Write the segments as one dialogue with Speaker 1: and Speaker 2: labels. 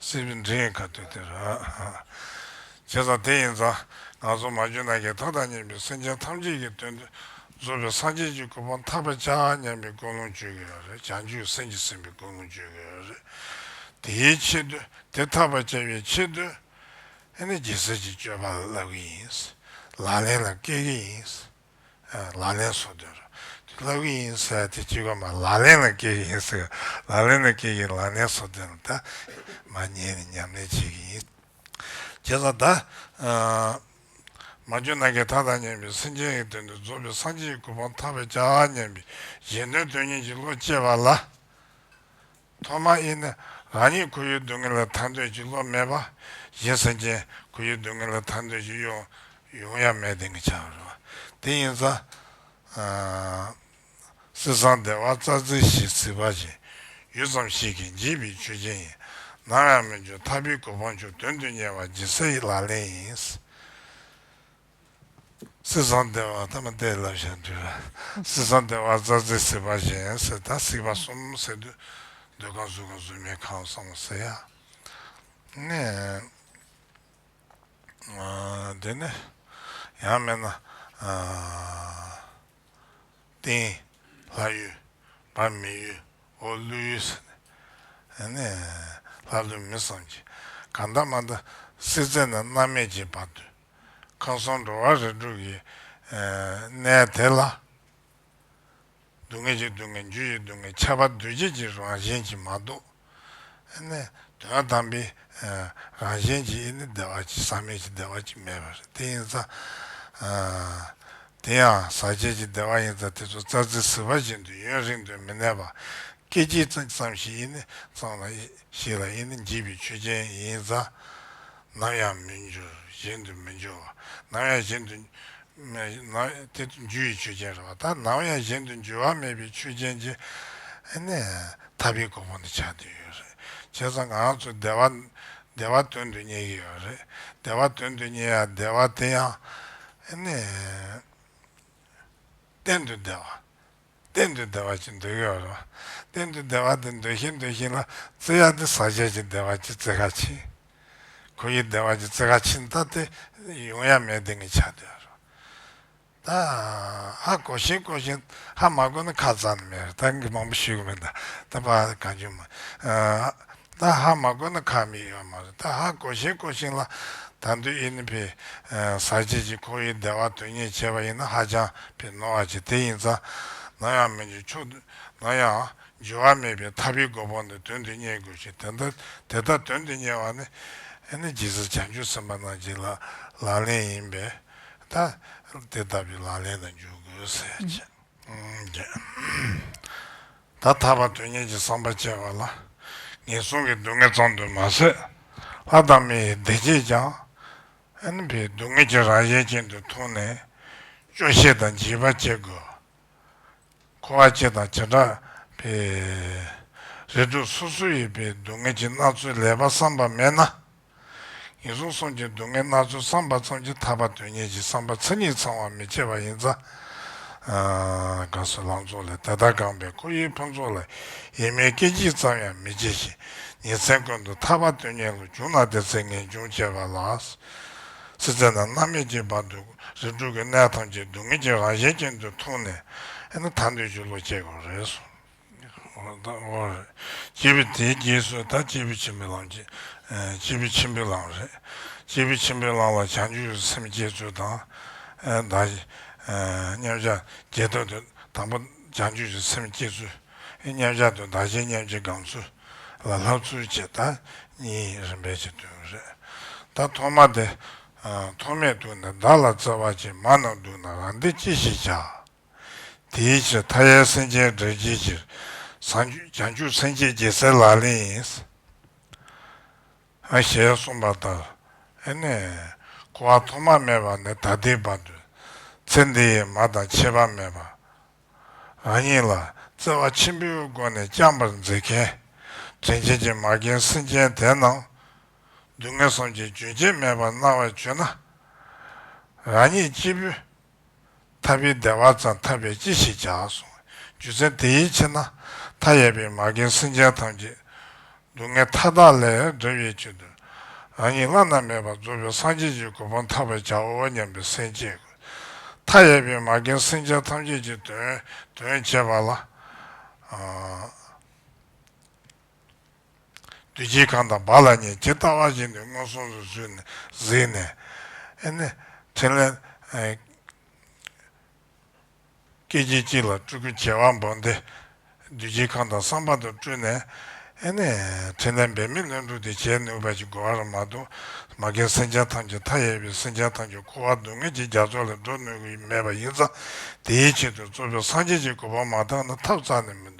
Speaker 1: སྲིད་པའི་འདྲེ་ཡི་ཁ་ཐུག་དེར། བྱས་ཙང་དེ་ཡིན་ཙང་ང་ཚོ་མ་རྒྱུད་ནང་གི་མཐའ་དང་གཉིས་པའི་སེམས་ཅན་ཐམས་ཅད་ཀྱི་དོན་དུ་གཟུགས་པའི་སངས་རྒྱས་ཀྱི་སྐུ་སྤངས་ཐག་པ་ཆགས་སྙམ་པའི་ཀུན་སློང་བཅོས་དགོས་རེད་བྱང་ཆུབ་སེམས་ཀྱིས་ཟིན་པའི་ཀུན་སློང་བཅོས་དགོས་རེད། དེའི་ཆེད་དུ་དེ་ཐག་པ་བཅད་པའི་ཆེད་དུ། ཨ་ནི་རྒྱལ་སྲིད་ཀྱི་སྤྱོད་པ་བསླབ་གི་ཡིན། ལག་ལེན་ལ་བཀལ་གི་ཡིན། ལག་ལེན་བཟོ་འདོད་རེད། ལབ་གི་ཡིན་ཟེར་ཡ་དེ་ཅི་དགོས་མ་ལག་ལེན་ལ་སྐྱེལ་གི་ཡིན་ཟེར། ལག་ལེན་ལ་སྐྱེལ་གི་ལག་ལེན་བཟོ་འདོད་ན་ད། མ་ཉན་ནས་ཉམས་ལེན་བྱེད་གི་ཡིན། བྱས་ཙང་ད། མ་བཅོས་ན་གའི་ཐ་དང་སྙན་པའི་སེམས་ཅན་གྱི་དོན་དུ་རྫོགས་པའི་སངས་རྒྱས་ཀྱི་སྐུ་འཕང་ཐག་པའི་ལྕགས་སྙན་པའི་གཞན་དོན་དོན་གཉེར་གྱི་བློ་སྐྱེས་པ་ལ། ཐོག་མ་ཨི་ནི་རང་ཉིད་ཁོར་ཡུག་སྡུག་བསྔལ་ལ་ཐར་འདོད་ཀྱི་བློ་མེད་པ། གཞན་ས་སྐྱེས་ཁོར་ཡུག་སྡུག་བསྔལ་ལ་ཐར་འདོད་ཀྱི་གཡོ་ཡོང་ཡ་མེད་དེང་གི་ཆ་བ་རེད་བ། དེ་ཡིན་ཙང། སྲིད་གསང་བདེ་བ་རྩ་ཚིག་བཞི་བརྩི་བ་བཞིན། ཡུད་ཙམ་ཞིག་གིས་འཇིག་པའི་ཆོས་ཅན་ཡིན། ནམ་ཡང་མི་འགྱུར་མཐའ་བུའི་གོ་འཕང་མཆོག་དོན་དུ་གཉེར་བ་སྦྱིན་སྲེག་ལག་ལེན་ཡིན། སྲིད་བཟང་སྡེ་བ་ཐ་མ་སྡེ་བའི་བསླབ་བྱ་འདུལ། སྲིད་བཟང་སྡེ་བ་རྩ་རྫས་སྲིད་པ་གཞན་སེལ་དང་སྲིད་པ་གསུམ་སེལ་འདུལ། འདོད་ཁམས་གཟུགས་ཁམས་གཟུགས་མེད་ཁམས་གསང་བ་སེལ། དེ་ནས་ཡང་སྨྲས་ན། སྟེང་ལྷ་ཡུལ་བར་མི་ཡུལ་འོག་ཀླུ་ཡུལ་ཟེར། ལྷ་ཀླུ་མི་བསམ་གྱིས་གང་འདའ་མ་འདའ། སྲིད་རྩེ་ན་མནར་མེད་ཀྱི་བར་དུ། མཁའ་གསུམ་འགྲོ་བ་རིགས་དྲུག་གི་གནས་དེ་ལ། སྡུག་བསྔལ་གྱི་སྡུག་བསྔལ་རྒྱུ་ཡི་སྡུག་བསྔལ་ཁྱད་པར་འདུ་བྱེད་ཀྱི་རང་བཞིན་གྱིས་མ་གཏོགས། ནི། དོན་དམ་པའི་རང་བཞིན་གྱིས་ནི་བདེ་བ་ཅིག་བསམ་མེད་ཀྱི་བདེ་བ་ཅིག་མེད་པར་དེ་ཡིན་ཙང། དེ་ཡང་ཟག་བཅས་ཀྱི་བདེ་བ་ཡིན་ཙང་དེ་ཚོ་རྩྭ་རྩི་ཟིལ་བ་བཞིན་དུ་ཡུན་རིང་དུ་མི་གནས་པ། སྐད་ཅིག་ཙམ་ཞིག་ཡིན་ནི་གཙང་ལ། ཞིག་ལ་ཡིན་ནི་འཇིག་པའི་ཆོས་ཅན་ཡིན་ཙང། ནམ་ཡང་མི་འགྱུར་གཞན་དུ་མི་འགྱུར་བ། ནམ་ཡང་གཞན་དུ། དེ་རྒྱུ་ཡི་ཆོས་ཅན་རེད་བ། ད་ནམ་ཡང་གཞན་དུ་འགྱུར་བ་མེད་པའི་ཆོས་ཅན་གྱི། ཐར་པའི་གོ་འཕང་དེ་ཆགས་འདོད་ཡོད་རེད། བྱས་ཙང་ང་རང་ཚོ་བདེ་བ། བདེ་བ་དོན་དུ་གཉེར་གྱི་ཡོད་རེད། བདེ་བ་དོན་དུ་གཉེར་ཡ་བདེ་བ་དེ་ཡང། གཏན་དུ་བདེ་བ། གཏན་དུ་བདེ་བ་ཅི་འདོད་ཡོད་རུང། གཏན་དུ་བདེ་བ་དེ་འདོད་བཞིན་འདོད་བཞིན་ལ་བརྩི་ཡ་དེ་ཟག་བཅས་ཀྱི་བདེ་བ་ཅི་བརྩི་ཁ་ཕྱིན། གོ་ཡི་བདེ་བ་ཅི་བརྩི་ཁ་ཕྱིན་ད་དེ་ཡོང་ཡ་མེད་དེ་ངས་ཆ་འདོད་རུང། ད་ཧ་གོ་བཞིན་གོ་བཞིན་ཧ་མ་གོ་ན་ཁ་རྩང་ནི་མེད་རུང་ད་ངས་མང་པོ་ཞུས་གི་མེད་ད་ད་པ་གང་བྱུང་མིན། ད་ཧ་མ་བསྐོ་ན་ཁ་མིག་ཡོད་མ་རེད་ད་ཧ་བསྐོ་ཤེས་བསྐོ་ཤིང་ལ་ད་འདུས་ཨི་ནི་ཕི་ཟ་བྱེད་ཅིག་ཁོ་ཡི་བདེ་བ་དོན་གཉེར་བྱེད་པ་ཡིན་ན་ཧ་ཅང་ཕི་ནོར་བ་བྱེད་དེ་ཡིན་ཙང་ནམ་ཡང་མི་འཇུ་ཆོག་ནམ་ཡང་འཇུ་བ་མེད་པའི་ཐ་བི་མགོ་བོ་ནས་དོན་དུ་གཉེར་དགོས་ཤིང་དེ་ལྟ་དེ་ལྟ་དོན་དུ་གཉེར་བ་ནི་ཨི་ནི་ཇི་སྲིད་བྱང་ཆུབ་སེམས་པ་རྣམས་ཀྱི་ལག་ལེན་ཡིན་པས་ད་དེ་ལྟ་བུའི་ལག་ལེན་ལ་འཇུག་དགོས་ཟེར། ད་ཐར་པ་དོན་གཉེར་གྱི་བསམ་པ་བསྐྱེད་པ་ལ་ངན་སོང་གི་སྡུག་བསྔལ་ཙམ་དུ་མ་ཟད། ལྷ་དང་མི་ཡི་བདེ་སྐྱིད་ཀྱང་ཨན་ཕའི་སྡུག་བསྔལ་གྱི་རྭ་གཞན་ཅན་དུ་མཐོང་ནས་སྐྱོ་ཤས་དང་བརྗིད་པ་བསྐྱེད་དགོས། འཁོར་བ་སྐྱེ་དང་བྱེ་བྲག་པའི་རེ་དོགས་སོ་སོ་ཡིས་པའི་སྡུག་བསྔལ་གྱི་སྣ་ཚོགས་ལས་པ་བསམ་པ་མེད་ན། ངན་སོང་གསུམ་གྱི་སྡུག་བསྔལ་སྣ་ཚོགས་བསམ་པ་ཙམ་གྱིས་ཐར་པ་དོན་གཉེར་གྱི་བསམ་པ་མཚན་ཉིད་ཚང་བར་མི་བྱེད་པ་ཡིན་ཙང། དགའ་བསུ་ལང་ཚོ་ལས་དེ་ལྟར་བསྒངས་པའི་ཁོར་ཡུག་ཕུན་ཚོགས་ལ་ཡེངས་མེད་སྐད་ཅིག་ཙམ་ཡང་མི་བྱེད་བཞིན་ཉིན་མཚན་ཀུན་ཏུ་ཐར་པ་དོན་གཉེར་ལ་རྒྱུག་ན་དེ་ཚེ་ངེས་འབྱུང་བཅས་པ་ལ་སྲིད་རྩེ་ན་མནར་མེད་ཀྱི་བར་དུ་རིགས་དྲུག་གི་གནས་ཐམས་ཅད་སྡུག་བསྔལ་གྱི་རང་ཞལ་ཅན་དུ་འཐུང་ནས་ད་འདོད་ཆོས་ལོག་སྤྱད་དགོས་པ་རེད་གསུངས། སྐྱེས་བུ་དེའི་རྗེས་སུ་ད་སྐྱེས་བུ་ཆེན་པོའི་ལམ་གྱིས་སྐྱེས་བུ་ཆེན་པོའི་ལམ་རེད། སྐྱེས་བུ་ཆེན་པོའི་ལམ་ལ་བྱང་ཆུབ་སེམས་བསྐྱེད་ཚུལ་དང། བདག་མཉམ་གཞག་བརྒྱད་དོན་དུ་དང་པོ་བྱང་ཆུབ་ཀྱི་སེམས་བསྐྱེད་ཚུལ། མཉམ་གཞག་དུ་བདག་གཞན་མཉམ་གྱི་སྒང་ཚུལ་ལ་ལྷག་ཚུལ་བཅས་ད་གཉིས་རིམ་པས་ཕྱེ་དོན་རེད། ད་ཐོག་མ་དེ་ཐོག་མེད་དུ་ནི་བདག་ལ་བརྩེ་བ་ཅན་མ་རྣམས་འདུག་ན་རང་འདི་ཅི་ཞིག་བྱ། དེའི་ཕྱིར་མཐའ་ཡས་སེམས་ཅན་སྒྲར་བགྱིད་ཕྱིར། བྱང་ཆུབ་སེམས་བསྐྱེད་རྒྱལ་སྲས་ལག་ལེན་ཡིན། ཞེས་གསུངས་པ་ལྟར་ནི། འཁོར་བ་ཐོག་མ་མེད་པ་ནས་ད་ལྟའི་བར་དུ། ཚེ་འདི་ཡི་མ་དང་ཁྱད་པར་མེད་པར། རང་ཉིད་ལ་བརྩེ་བ་ཆེན་པོའི་སྒོ་ནས་བསྐྱངས་པར་མཛད་མཁན། དྲིན་ཆེན་གྱི་མ་རྒན་སེམས་ཅན་དེ་རྣམས། སྡུག་བསྔལ་གསུམ་གྱི་རྒྱུན་ཆད་མེད་པར་སྣང་བར་བྱོས་ན། རང་ཉིད་སྐྱེས་བུ་ཐར་པའི་བདེ་བ་ཙམ་ཐར་པས་ཅི་ཞིག་བྱ་གསུང། རྒྱུ་མཚན་དེ་ཡི་ཕྱིར་ན་མཐའ་ཡས་པའི་མ་རྒན་སེམས་ཅན་ཐམས་ཅད། སྡུག་བསྔལ་མཐའ་དག་ལས་སྒྲོལ་བའི་ཕྱིར་དུ། རང་ཉིད་བླ་ན་མེད་པ་རྫོགས་པའི་སངས་རྒྱས་ཀྱི་གོ་འཕང་ཐོབ་པར་བྱའོ་སྙམ་པའི་སེམས་བསྐྱེད་དགོས། མཐའ་ཡས་པའི་མ་རྒན་སེམས་ཅན་ཐམས་ཅད་ཀྱི་དོན་དོན་བྱེད་པ་ལ། བདུད་བཞིའི་ཁང་དང་བ་ལ་ཉེ་ཇི་ལྟ་བ་བཞིན་དུ་མངོན་སུམ་དུ་བསུས་ནས་གཟིགས་ནས། ཨེ་ནི། ཕྲིན་ལས། སྐད་ཅིག་གཅིག་ལ་སྤྲུལ་སྐུ་བྱེ་བ་འབུམ་སྡེ། བདུད་བཞིའི་ཁང་དང་གསང་བ་དུ་སྤྲུལ་ནས། ཨེ་ནི། ཕྲིན་ལས་འབད་མེད་བློན་དྲུག་སྟེ་བྱེད་ནུས་པ་ཞིག་དགོས་བར་མ་དུ་མ་མཁན་སེམས་ཅན་ཐམས་ཅད་མཐའ་ཡས་པའི་སེམས་ཅན་ཐམས་ཅད་འཁོར་བ་སྡུག་བསྔལ་གྱི་རྒྱ་མཚོ་ལས་སྒྲོལ་ནུས་མེད་པ་ཡིན་ཙང་དེའི་ཆེད་དུ་གཙོ་བོས་སངས་རྒྱས་ཀྱི་གོ་འཕང་མ་བཏང་ན་ཐབས་རྩ་ནས་མི་འདུག།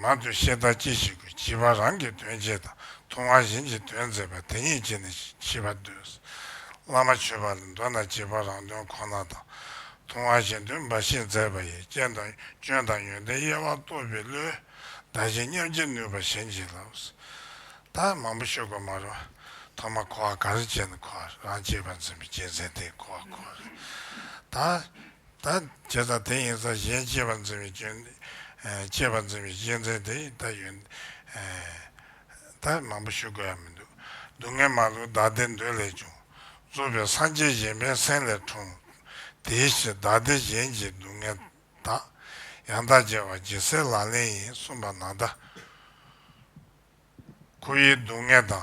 Speaker 1: མང་དུ་བཤད་ད་ཅི་ཞིག་དགོས་བྱིས་པ་རང་གི་དོན་བྱས་དང་ཐུང་བ་གཞན་གྱི་དོན་མཛད་པ་དེ་ཉིད་ཀྱིས་ནི་བྱིས་པ་འདོད། བླ་མ་ཆོས་པ་ལ་འདོད་ན་བྱིས་པ་རང་དོན་ཁོ་ན་དང། ཐུང་བ་གཞན་དོན་འབའ་ཞིག་མཛད་པ་ཡིས་རྐྱེན་དང་སྐྱོན་དང་ཡོན་ཏན་དབྱེ་བ་རྟོགས་པའི་བློས། བདག་གཞན་མཉམ་བྱེད་ནུས་པ་གཞན་གྱིས་ལགས། ད་མང་པོ་ཤོད་དགོས་མ་རུང། ཐོག་མ་འཁོར་བ་ག་རེ་བྱས་ནས་འཁོར་བ་རང་བྱས་པ་འཛིན་པའི་རྐྱེན་ཟད་དེ་འཁོར་བ་འཁོར། ད། ད་བྱས་ཙང་དེ་ཡིན་ཙང་གཞན་གཅེས་པར་འཛིན་པའི་སྐྱོན། གཅེས་པར་འཛིན་པའི་གཞི་འཛིན་དེ་ཡིས་ད་ཡོད། ད་མང་པོ་ཞུ་དགོས་ཡ་མི་འདུག། སྡུག་བསྔལ་མ་ལུས་བདག་བདེ་འདོད་ལས་བྱུང། རྩོལ་བའི་སངས་རྒྱས་གཞན་ཕན་སེམས་ལས་འཁྲུངས། དེའི་ཕྱིར་བདག་བདེ་གཞན་གྱི་སྡུག་བསྔལ་དག། ཡང་དག་རྒྱལ་བ་རྒྱལ་སྲས་ལག་ལེན་ཡིན་གསུངས་པ་ནང་ལྟར། ཁོ་བོའི་སྡུག་བསྔལ་དང།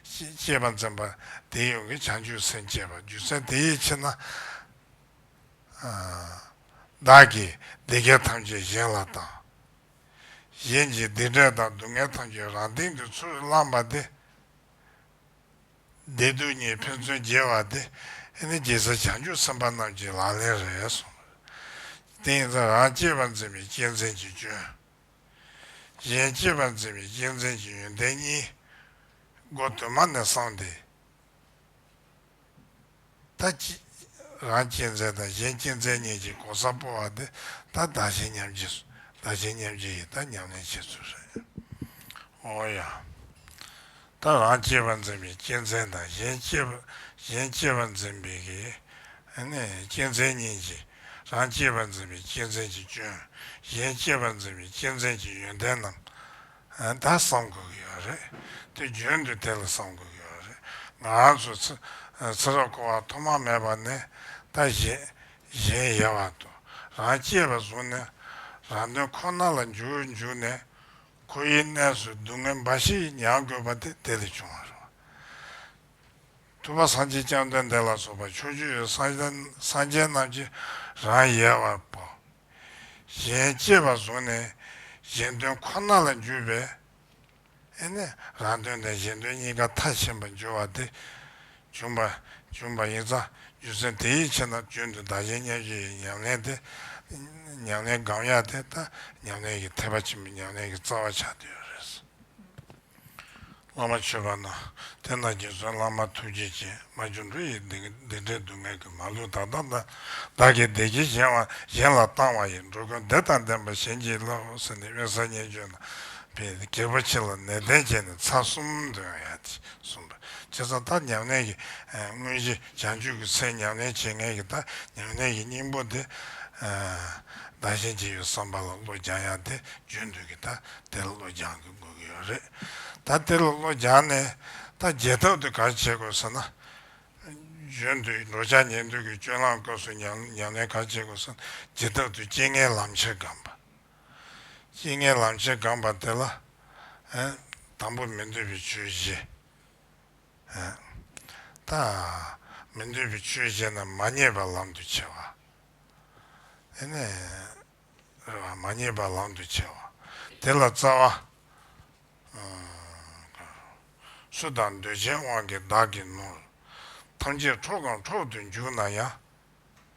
Speaker 1: ཅེས་པ་འཛིན་པ་དེ་ཡོངས་ཀྱི་བྱང་ཆུབ་སེམས་བསྐྱེད་པ་རྒྱུ་མཚན་དེ་ཡིད་ཆེས་ན། བདག་གིས་སྡིག་བསྐྱེད་ཐམས་ཅད་གཞན་ལ་བཏང། གཞན་གྱི་སྡིག་འབྲས་དང་སྡུག་བསྔལ་ཐམས་ཅད་རང་སྟེང་དུ་ཚུར་བླངས་པ་དེ། བདེ་སྡུག་གཉིས་ཕན་ཚུན་རྒྱས་བ་དེ་ནི་རྒྱལ་སྲས་བྱང་ཆུབ་སེམས་དཔའ་རྣམས་ཀྱི་ལག་ལེན་རེད་གསུངས། དེ་ཡིན་ཚེ་རང་སྐྱེས་པ་འཛིན་པའི་སྐྱེས་འཛིན་གྱི་སྐྱོན། གཞན་གཅེས་པར་མཛད་པའི་རྒྱལ་མཚན་གྱི་ཡོན་ཏན་གཉིས། སྒོ་དུ་མ་ནས་སོང་སྟེ། ད་ཀྱི་རང་སྐྱེས་མཚན་དང་གཞན་སྐྱེས་མཚན་གཉིས་ཀྱི་གོ་ས་སྤོ་བ་དེ་ད་བདག་གཞན་མཉམ་སྐྱེས་སུ་བདག་གཞན་མཉམ་སྐྱེས་ཀྱི་ད་ཉམས་ལེན་བྱེད་ཚུལ་སོགས་ཡིན། འོ་ཡང། ད་རང་སྐྱེས་པ་འཛིན་པའི་སྐྱེ་མཚན་དང་གཞན་སྐྱེས་པ་གཞན་སྐྱེས་པ་འཛིན་པའི་གི་ནི་སྐྱེ་མཚན་གཉིས་ཀྱིས་རང་སྐྱེས་པ་འཛིན་པའི་སྐྱེ་མཚན་གྱི་སྐྱོན་གཞན་སྐྱེས་པ་འཛིན་པའི་སྐྱེ་མཚན་གྱི་ཡོན་ཏན་རྣམས་ད་བསམ་དགོས་ཀྱི་ཡོད་རེད་དེ་རྒྱུན་དུ་དེ་ལ་བསམ་དགོས་ཀྱི་ཡོད་རེད་ང་རང་ཚོ་ཚེ་རབས་འཁོར་བ་ཐོག་མ་མེད་པ་ནས་ད་གཞན་གཞན་ཡལ་བར་དུ་རང་སྐྱེས་པ་བཟུང་ནས་རང་དོན་ཁོ་ན་ལ་འཇུག་འཇུག་ནས་ཁོ་ཡི་གནས་སུ་སྡུག་བསྔལ་འབའ་ཞིག་མྱང་དགོས་པ་དེ་དེ་ལས་བྱུང་བར་རོ། ཐུབ་པ་སངས་རྒྱས་སྤྱང་སྟོན་དེ་ལ་སོགས་པ་ཕྱོགས་བཅུའི་སངས་རྒྱས་རྣམས་ཀྱིས་རང་ཡལ་བར་སྤོ། གཞན་གཅེས་པར་བཟུང་ནས་གཞན་དོན་ཁོ་ན་ལ་འགྱུར་བས། ཨེ་ནས་རང་དོན་དང་གཞན་དོན་གཉིས་ཀ་མཐའ་ཕྱིན་པར་འགྱུར་བ་དེ། བྱུང་བ། བྱུང་བ་ཡིན་ཙང་རྒྱུ་མཚན་དེ་ཡིད་ཆེས་ན་རྒྱུན་དུ་བདག་གཞན་བསྙད་བརྗོད་ཡི་ཉམས་ལེན་དེ། ཉམས་ལེན་སྒང་ཡག་དེ་ལྟ་ཉམས་ལེན་གྱི་འཐད་པ་ཆེན་པོ་ཉམས་ལེན་གྱི་རྩ་བ་ཆགས་དུས་རེད། བླ་མ་མཆོད་པ་ན་དེ་ན་རྗེ་བཙུན་བླ་མ་ཐུགས་རྗེ་ཆེ་མ་སྒྱུ་འཕྲུལ་ཡི་བདེ་འབྲས་སྡུག་བསྔལ་གྱི་མ་ལུས་དག་དང་དང་བདག་གི་བདེ་སྐྱིད་གཞན་དབང་གཞན་ལ་བཏང་བ་ཡི་འགྲོ་ཀུན་བདེ་དང་ལྡན་པ་གཞན་གྱིས་བསླབ་ཟིན་ནས་གཡོན་ས་བསྙད་བརྗོད་ན་བས་རྒྱལ་པོ་ཆེ་ལ་ནན་ཏན་བྱས་ནས་ཚར་གསུམ་འདོན་ཡག་ཅིག་གསུམ། སྤྱི་རྩ་ཐ་མྱ་ངན་གྱི། དངོས་གཞི་བྱང་ཆུབ་ཀྱི་ཚེ་མྱ་ངན་བྱེད་ངན་གྱི་ཐ་མྱ་ངན་གྱི་སྙིང་པོ་དེ། བདག་གཞན་གཅིག་ཡོད་བསམ་པ་ལ་བློ་སྦྱང་ཡང་དེ་བརྗོད་འདོད་ཀྱི་ཐ་དེ་ལ་བློ་སྦྱང་གི་དགོས་ཀྱི་ཡོད་རེད། ད་དེ་ལ་བློ་སྦྱང་ནས་ཐ་བརྗེད་ཐབས་དེ་གར་བྱེད་དགོས་ཟེར་ན། བརྗོད་འདོད་འགྲོ་འཆག་ཉལ་འདོད་ཀྱི་སྤྱོད་ལམ་སྐབས་སུ་མྱ་ངན་གར་བྱེད་དགོས་ཟེར་ན་བརྗེད་ཐབས་དུ་རྐྱེན་ངན་ལམ་ཁྱེར་སྒམ་པ། གཡེང་ངན་ལམ་ཆེན་སྒང་བར་དེ་ལ། དང་པོ་མི་འདོད་པའི་ཆོས་བཞི། དང། མི་འདོད་པའི་ཆོས་བཞི་རྣམས་མ་རྙེད་པར་ལམ་དུ་ཆས་པ། དེ་ནས། རེ་བ་མ་རྙེད་པར་ལམ་དུ་ཆས་པ། དེ་ལ་རྩ་བ། སུ་དག་འདོད་ཆེན་དབང་གིས་བདག་གི་ནོར། ཐམས་ཅད་འཕྲོག་གམ་འཕྲོག་ཏུ་འཇུག་ན་ཡང།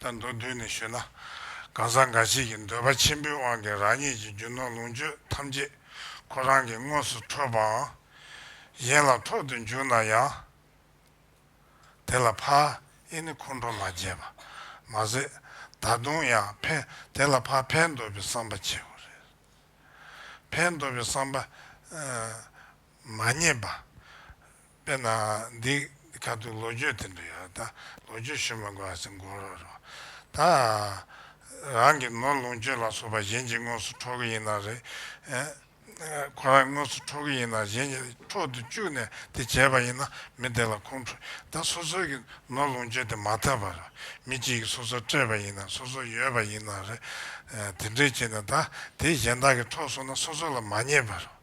Speaker 1: ད་མདོར་བསྡུས་ནས་ཞུས་ན། གང་ཟག་འགའ་ཞིག་གིས་འདོད་པ་ཆེན་པོའི་དབང་གིས་རང་ཉིད་ཀྱི་རྒྱུ་ནོར་ལོངས་སྤྱོད་ཐམས་ཅད་ཁོ་རང་གི་དངོས་སུ་འཕྲོད་པའང་གཞན་ལ་འཕྲོག་ཏུ་འཇུག་ན་ཡང། དེ་ལ་ཕ་ཨེ་ནི་ཁོང་ཁྲོ་མ་བྱེད་པ་མ་ཟད། ད་དུང་ཡང་ཕན་དེ་ལ་ཕ་ཕན་འདོགས་པའི་བསམ་པ་བྱེད་དགོས་རེད། ཕན་འདོགས་པའི་བསམ་པ། མ་རྙེད་པ། དཔེར་ན། འདི་ཁ་ཐུག་ལོ་རྒྱུས་དེ་འདྲ་ཡོད་ད། ལོ་རྒྱུས་ཤོད་མ་དགོས་ཨ་སེ་མགོ་རོ་རོ། ད། རང་གི་ནོར་ལོངས་སྤྱོད་ལ་སོགས་པ་གཞན་གྱིས་དངོས་སུ་འཕྲོག་གི་ཡིན་ན་རེད། ཁོ་རང་གིས་དངོས་སུ་འཕྲོག་གི་ཡིན་ན་གཞན་གྱིས་འཕྲོག་ཏུ་བཅུག་ནས་དེ་བྱས་པ་ཡིན་ན་མི་དེ་ལ་ཁུངས་འཕྲོག་ད་སོ་སོའི་གི་ནོར་ལོངས་སྤྱོད་དེ་མ་ཐབས་པ་རེད། མི་གཅིག་གིས་སོ་སོར་སྤྲད་པ་ཡིན་ན་སོ་སོར་ཡོད་པ་ཡིན་ན་རེད། དེ་འདྲས་བྱས་ནས་ད་དེ་གཞན་དག་གིས་འཕྲོག་སོང་ན་སོ་སོ་ལ་མ་རྙེད་པ་རེད།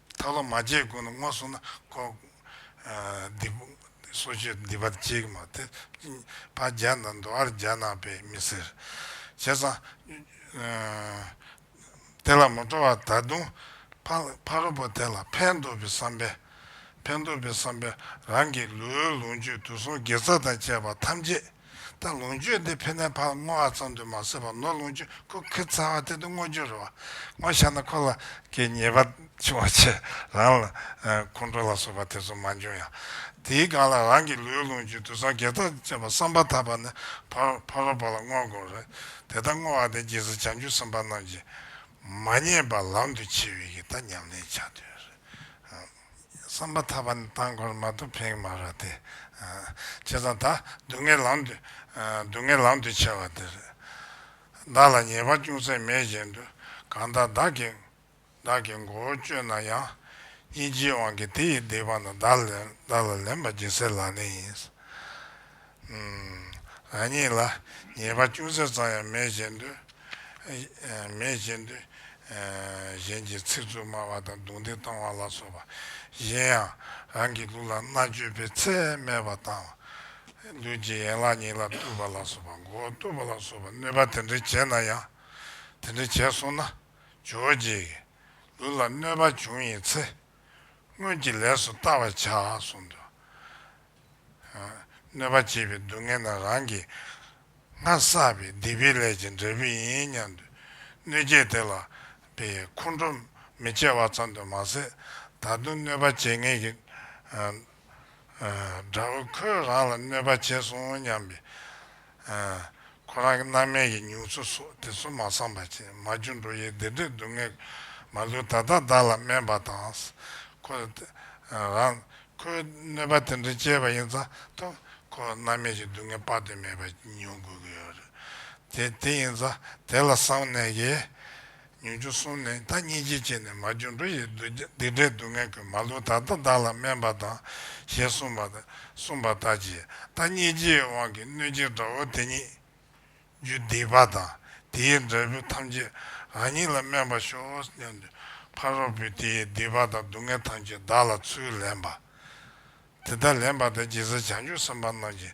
Speaker 1: ཐག་ལོ་མ་བརྒྱད་དགོས་ན་སྔོ་སོ་ན་ཁོག། སྡིག། སོ་ཆུ་སྡིག་པ་གཅིག་གི་མ་དེ། བ་བརྒྱ་ན་མདོ་ཨར་བརྒྱ་ན་པས་མི་ཟེར། བྱས་ཙང། དེ་ལ་མི་སྤྲོ་བ་ད་དུང། ཕ་རོལ་པོ་དེ་ལ་ཕན་འདོགས་པའི་བསམ་པས། ཕན་འདོགས་པའི་བསམ་པས་རང་གི་ལུས་ལོངས་སྤྱོད་དུག་གསུམ་དགེ་རྩ་དང་བཅས་པ་ཐམས་ཅད། ད་ལོངས་སྤྱོད་འདི་ཕན་ནས་ཕར་བསྔོ་བ་ཙམ་དུ་མ་ཟད་པར་ནོར་ལོངས་སྤྱོད་ཁུག་ཁི་ཚ་བ་དེ་དུ་བསྔོ་རྒྱུར་རེ་བ་བསྔོ་བཞག་ན་ཁོ་ལ་གི་ཉེས་པ་འཆིང་བ་ཆེ་རང་ལ་ཁོང་ཁྲོ་ལ་སོགས་པ་དེ་ཚོ་མ་འབྱུང་ཡང། དེའི་སྒང་ལ་རང་གི་ལུས་ལོངས་སྤྱོད་དུད་ཚང་བརྒྱད་རྩ་བཅས་པ་བསམ་པ་ཐག་པ་ནས་ཕར་ཕ་རོལ་པོ་ལ་བསྔོ་དགོས་རེད་དེ་ལྟར་བསྔོ་བ་དེ་རྒྱལ་སྲིད་བྱང་ཆུབ་སེམས་དཔའ་རྣམས་ཀྱིས་མ་ཉེས་པ་ལམ་དུ་ཕྱེ་བའི་གི་ད་ཉམས་ལེན་བྱ་འདོད་རེད། བསམ་པ་ཐག་པ་ནི་བཏང་འཁོར་མ་དུ་འཕེང་མ་ར་སྟེ། བྱས་ཙང་ད་སྡུག་བསྔལ་ལམ་དུ། སྡུག་བསྔལ་ལམ་དུ་ཆེ་བ་འདི་རེད། བདག་ལ་ཉེས་པ་ཅུང་ཟད་མེད་བཞིན་དུ་གང་ལྟར་བདག་གིས། བདག་གི་མགོ་བོ་གཅོད་ན་ཡང། སྙིང་རྗེའི་དབང་གིས་དེ་ཡི་སྡིག་པ་རྣམས་བདག་ལ་ལེན་པ་སྦྱིན་སྲེག་ལག་ལེན་ཡིན། ང་གཉིས་ལ་ཉེས་པ་ཅུང་ཟད་ཙམ་ཡང་མེད་བཞིན་དུ། མེད་བཞིན་དུ། གཞན་གྱི་ཚིག་རྩུབ་སྨྲ་བ་དང་རྡུང་རྡེག་གཏོང་བ་ལ་སོགས་པ། གཞན་ཡང། རང་གི་ལུགས་ལ་མནའ་གཅོད་པའི་ཚད་སྨད་པ་དང། ལུས་ཀྱི་ཡན་ལག་གཉིས་ལ་གཏུབ་པ་ལ་སོགས་པ་མགོ་བོ་གཏུབ་པ་ལ་སོགས་པ་གནོད་པ་དེ་འདྲ་བྱས་ན་ཡང། དེ་འདྲ་བྱས་སོང་ན། ཇོ་བོ་རྗེས། ལུས་ལ་གནོད་པ་བྱུང་ཡིན་ཚེ། སྔོན་གྱི་ལས་སུ་བལྟ་བར་བྱ་གསུངས་མདོ། གནོད་པ་བྱེད་པའི་སྡུག་བསྔལ་དང་རང་གིས་སྔར་བསགས་པའི་སྡིག་པའི་ལས་ཀྱི་འབྲས་བུ་ཡིན་སྙམ་དུ་གནོད་བྱེད་དེ་ལ་པའི་ཁོང་ཁྲོ་མི་སྐྱེ་བ་ཙམ་དུ་མ་ཟད་ད་དུང་གནོད་པ་བྱེད་ངེས་ཀྱི་དགྲ་བོ་ཁོས་རང་ལ་གནོད་པ་བྱས་སོང་སྙམ་པའི་ཁོ་རང་གི་མནའ་མའི་ཡི་མྱུག་ཚུལ་སོགས་དེ་ཚོ་མ་བསམ་པ་ཅན་མ་རྒྱུ་འགྲོ་ཡི་བདེ་འབྲས་སྡུག་བསྔལ་མ་ལུས་ད་ལྟ་བདག་ལ་སྨན་པ་དང། ཁོ་རང། ཁོའི་གནོད་པ་དེ་འདྲའི་སྐྱེས་པ་ཡིན་ཙང་ཐུ། ཁོ་མནའ་མས་ཀྱི་སྡུག་བསྔལ་དཔག་ཏུ་མེད་པ་མྱོང་དགོས་ཀྱི་ཡོད་རེད། དེ་དེ་ཡིན་ཙང་དེ་ལ་བསམ་ནས་ཀྱི། ཉོན་ཅིག་གསུངས་ནས་ད་སྙིང་རྗེ་བྱས་ནས་མ་རྒྱུ་འགྲོ་ཡི་སྡིག་སྒྲིབ་སྡུག་བསྔལ་ཀུན་མ་ལུས་ད་ལྟ་བདག་ལ་སྨན་པ་དང་ཞེས་གསུངས་པ། གསུངས་པ་ལྟར་གྱིས་ད་སྙིང་རྗེའི་དབང་གིས་གནོད་སྦྱིན་དགྲ་བོ་དེ་ཉིད། རྒྱུ་སྡིག་པ་དང་དེའི་འབྲས་བུ་ཐམས་ཅད་རང་ཉིད་ལ་སྨན་པར་ཤོག་སྙམ་དུ་ཕ་རོལ་པོས་དེའི་སྡིག་པ་དང་སྡུག་བསྔལ་ཐམས་ཅད་བདག་ལ་ཚུར་ལེན་པ། དེ་ལྟར་ལེན་པ་དང་རྗེས་སུ་བྱང་ཆུབ་སེམས་དཔའ་རྣམས་ཀྱི་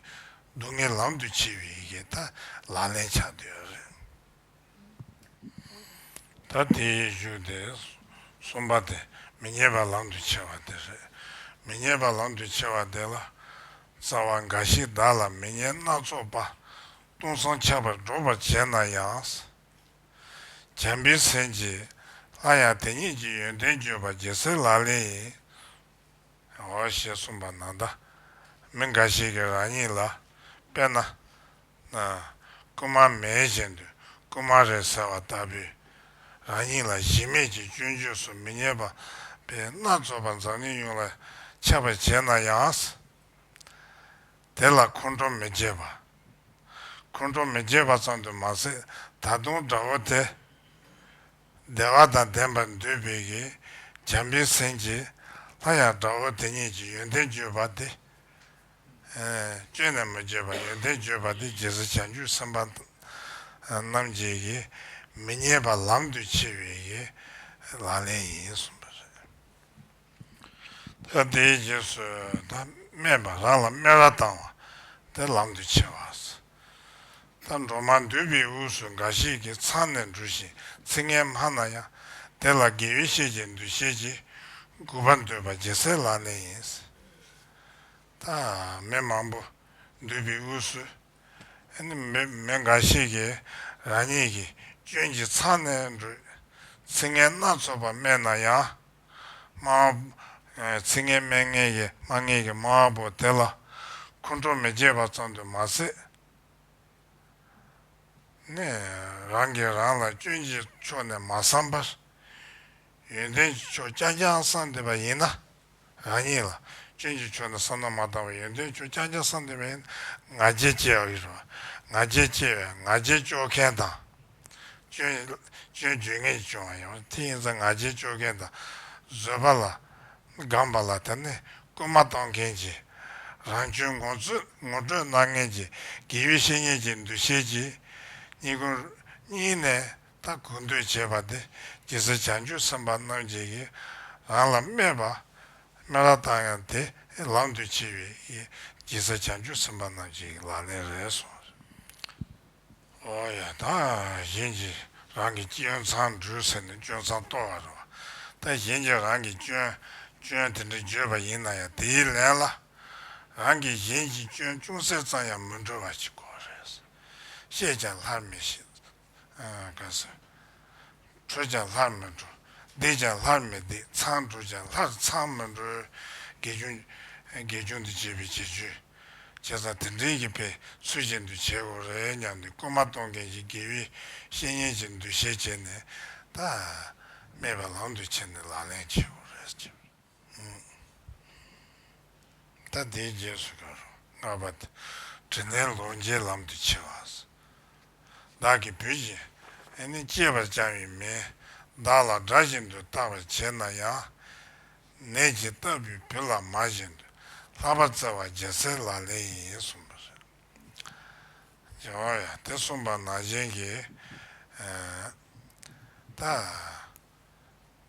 Speaker 1: སྡུག་བསྔལ་ལམ་དུ་ཕྱེ་བའི་ཡི་གེ་ལྟར་ལག་ལེན་བྱ་འདོད་ཡོད་རེད། ད་དེ་ཡིས་བཞུགས་ཏེ། གསུམ་པ་སྟེ་མི་མཉེས་པ་ལམ་དུ་ཆས་པ་དེ་རེད། མི་མཉེས་པ་ལམ་དུ་ཆས་པ་དེ་ལ། རྩ་བ་འགའ་ཞིག་བདག་ལ་མི་མཉེས་སྣ་ཚོགས་པ། སྟོང་སང་ཆགས་པར་སྒྲོགས་པར་བྱེད་ན་ཡང། བྱམས་པའི་སེམས་ཀྱིས་སླར་ཡང་དེ་ཉིད་ཀྱི་ཡོན་ཏན་བརྗོད་པ་རྒྱལ་སྲས་ལག་ལེན་ཡིན། ཞེས་གསུངས་པ་ན་ད་མི་འགའ་ཞིག་གིས་རང་ཉིད་ལ་དཔེར་ན། རྐུན་མ་མེད་བཞིན་དུ་རྐུན་མ་རེད་ཟེར་བ་ལྟ་བུས། རང་ཉིད་ལ་གཞི་མེད་ཀྱི་སྐྱོན་བརྗོད་སུ་མི་རྙེད་པ་པའི་སྣ་ཚོགས་པ་འཛམ་གླིང་ཡོངས་ལ་ཁྱབ་པར་བྱས་ན་ཡང། དེ་ལ་ཁོང་ཁྲོ་མི་སྐྱེ་བ། ཁོང་ཁྲོ་མི་སྐྱེ་བ་ཙམ་དུ་མ་ཟད་ད་དུང་དགྲ་བོ་དེ། བདེ་བ་དང་ལྡན་པར་འདུས་པའི་གིས་འཇམ་པའི་སེམས་ཀྱིས། ལྷ་ཡང་དགྲ་བོ་དེ་ཉིད་ཀྱི་ཡོན་ཏན་བརྗོད་པ་སྟེ། སྐྱོན་ནས་མི་བརྗོད་པར་ཡོན་ཏན་བརྗོད་པ་སྟེ་རྗེས་སུ་བྱང་ཆུབ་སེམས་དཔའ་རྣམས་ཀྱི་གིས་མི་བརྙས་པ་ལམ་དུ་ཆས་པའི་གིས་ལག་ལེན་ཡིན་གསུངས་པ་རེད། ད་དེའི་རྗེས་སུ་ད་སྨྲས་པ་རང་ལ་སྨད་ར་བཏང་བ་དེ་ལམ་དུ་ཆས་བ། ད་འགྲོ་མ་འདུས་པའི་དབུས་སུ་འགའ་ཞིག་གིས་ཚང་ནས་འགྲོ་ཞིང་ཚིག་ངན་སྨྲ་ན་ཡང་དེ་ལ་དགེ་བའི་བཤེས་ཀྱི་འདུ་ཤེས་ཀྱིས་མགུ་བར་འདོད་པ་རྒྱལ་སྲས་ལག་ལེན་ཡིན། ད་མི་མང་པོ་འདུས་པའི་དབུས་སུ་མི་འགའ་ཞིག་གིས་རང་ཉིད་ཀྱི་སྐྱོན་གྱིས་ཚང་ནས་འགྲོ་ཚིག་ངན་སྣ་ཚོགས་པ་སྨྲས་ན་ཡང། མ། ཚིག་ངན་སྨྲས་ངན་ཡིན་སྨྲ་ངན་གྱི་མ་བོ་དེ་ལ། ཁོང་ཁྲོ་མི་བསྐྱེད་པ་ཙམ་དུ་མ་ཟད། ནས། རང་གིས་རང་ལ་སྐྱོན་གྱི་ཕྱོགས་ནས་མ་བསམ་པར། ཡོན་ཏན་གྱི་ཕྱོགས་རྐྱང་རྐྱང་བསམ་འདོད་པ་ཡིན་ན། རང་ཉིད་ལ་སྐྱོན་གྱི་ཕྱོགས་ནས་བསམ་ན་མ་དག་པའི་ཡོན་ཏན་གྱི་ཕྱོགས་རྐྱང་རྐྱང་བསམ་འདོད་པ་ཡིན་ན་ང་རྒྱལ་སྐྱེ་བ། ང་རྒྱལ་སྐྱེ་བས་ང་རྒྱལ་སྐྱོ་མཁན་དང། སྤྱོད་རྒྱུ་ངེས་བྱུང་བ་ཡིན་པ་དེ་ཡིན་ཚེ་ང་རྒྱལ་སྤྱོད་མཁན་དང་བཟོད་པ་ལ་སྒང་པ་ལ་དེ་ནས་སྐུལ་མ་གཏོང་མཁན་གྱི་རང་གཅུན་ངོ་སྤྲོད་གནང་མཁན་གྱི་དགེ་བའི་བཤེས་གཉེན་གྱི་འདུ་ཤེས་ཀྱིས་གཉིས་བཀུར་གཉིས་ནས་ད་གུས་འདུད་བྱེད་པ་དེ་ཇི་སྲིད་བྱང་ཆུབ་སེམས་དཔའ་རྣམ་བརྒྱད་ཀྱིས་རང་ལ་སྨད་པ་སྨད་ར་བཏང་ཡང་དེ་ལམ་དུ་ཆས་པའི་ཡིད་ཇི་སྲིད་བྱང་ཆུབ་སེམས་དཔའ་རྣམ་བརྒྱད་ཀྱི་ལག་ལེན་རེད་སོང། ཨོ་ཡ་ད་གཞན་གྱིས་རང་གི་སྐྱོན་མཚང་འབྲུས་ཟེར་ནས་སྐྱོན་མཚང་གཏོར་བ་རེད་བ། ད་གཞན་གྱིས་རང་གི་སྐྱོན། སྐྱོན་དེ་འདྲ་བརྗོད་པ་ཡིན་ན་ཡང་དེའི་ལན་ལ། རང་གིས་གཞན་གྱི་སྐྱོན་ཅུང་ཟད་ཙམ་ཡང་མི་འབྲི་བ་ཞིག་དགོས་རེད། བཤད་ཀྱང་ལྷར་མི་ཤེས། ག་སོ། གྲོལ་ཀྱང་ལྷར་མི་གྲོལ། བདེས་ཀྱང་ལྷར་མི་བདེ། ཚངས་བྲོས་ཀྱང་ལྷར་ཚངས་མི་བྲོལ། དགེ་སྦྱོང། དགེ་སྦྱོང་དུ་བྱེད་པའི་བྱེད་ཆོས། བྱས་ཙང་དེ་འབྲེལ་གྱི་པའི་ཚུལ་ཅན་དུ་བྱེད་དགོས་རེད་སྙམ་སྟེ་སྐུལ་མ་གཏོང་མཁན་གྱི་དགེ་བའི་བཤེས་གཉེན་གྱི་འདུ་ཤེས་བསྐྱེད་ནས། ད། སྨྲས་པ་ལམ་དུ་ཁྱེར་ནས་ལག་ལེན་བྱེད་དགོས་རེད། ད་ལྟའི་རྗེས་སུ་འགྲོ་རུང་ངར་པ་དེ་དྲིན་ལྡན་ལོངས་སྤྱད་ལམ་དུ་ཆས་བ། བདག་གིས་བུ་བཞིན་ཨེ་ནི་སྐྱེས་པར་བཅང་བའི་མིས་བདག་ལ་དགྲ་བཞིན་དུ་བརྟག་པར་བྱེད་ན་ཡང། ནད་ཇི་ལྟ་བུའི་བུ་ལ་མ་བཞིན་དུ་ལྷག་པར་བརྩེ་བ་བརྗེ་གསེར་ལག་ལེན་ཡིན་གསུངས་པ་རེད། རྗེ་བོ་ཡང་དེ་གསུངས་པ་ནང་བཞིན་གྱིས། ད།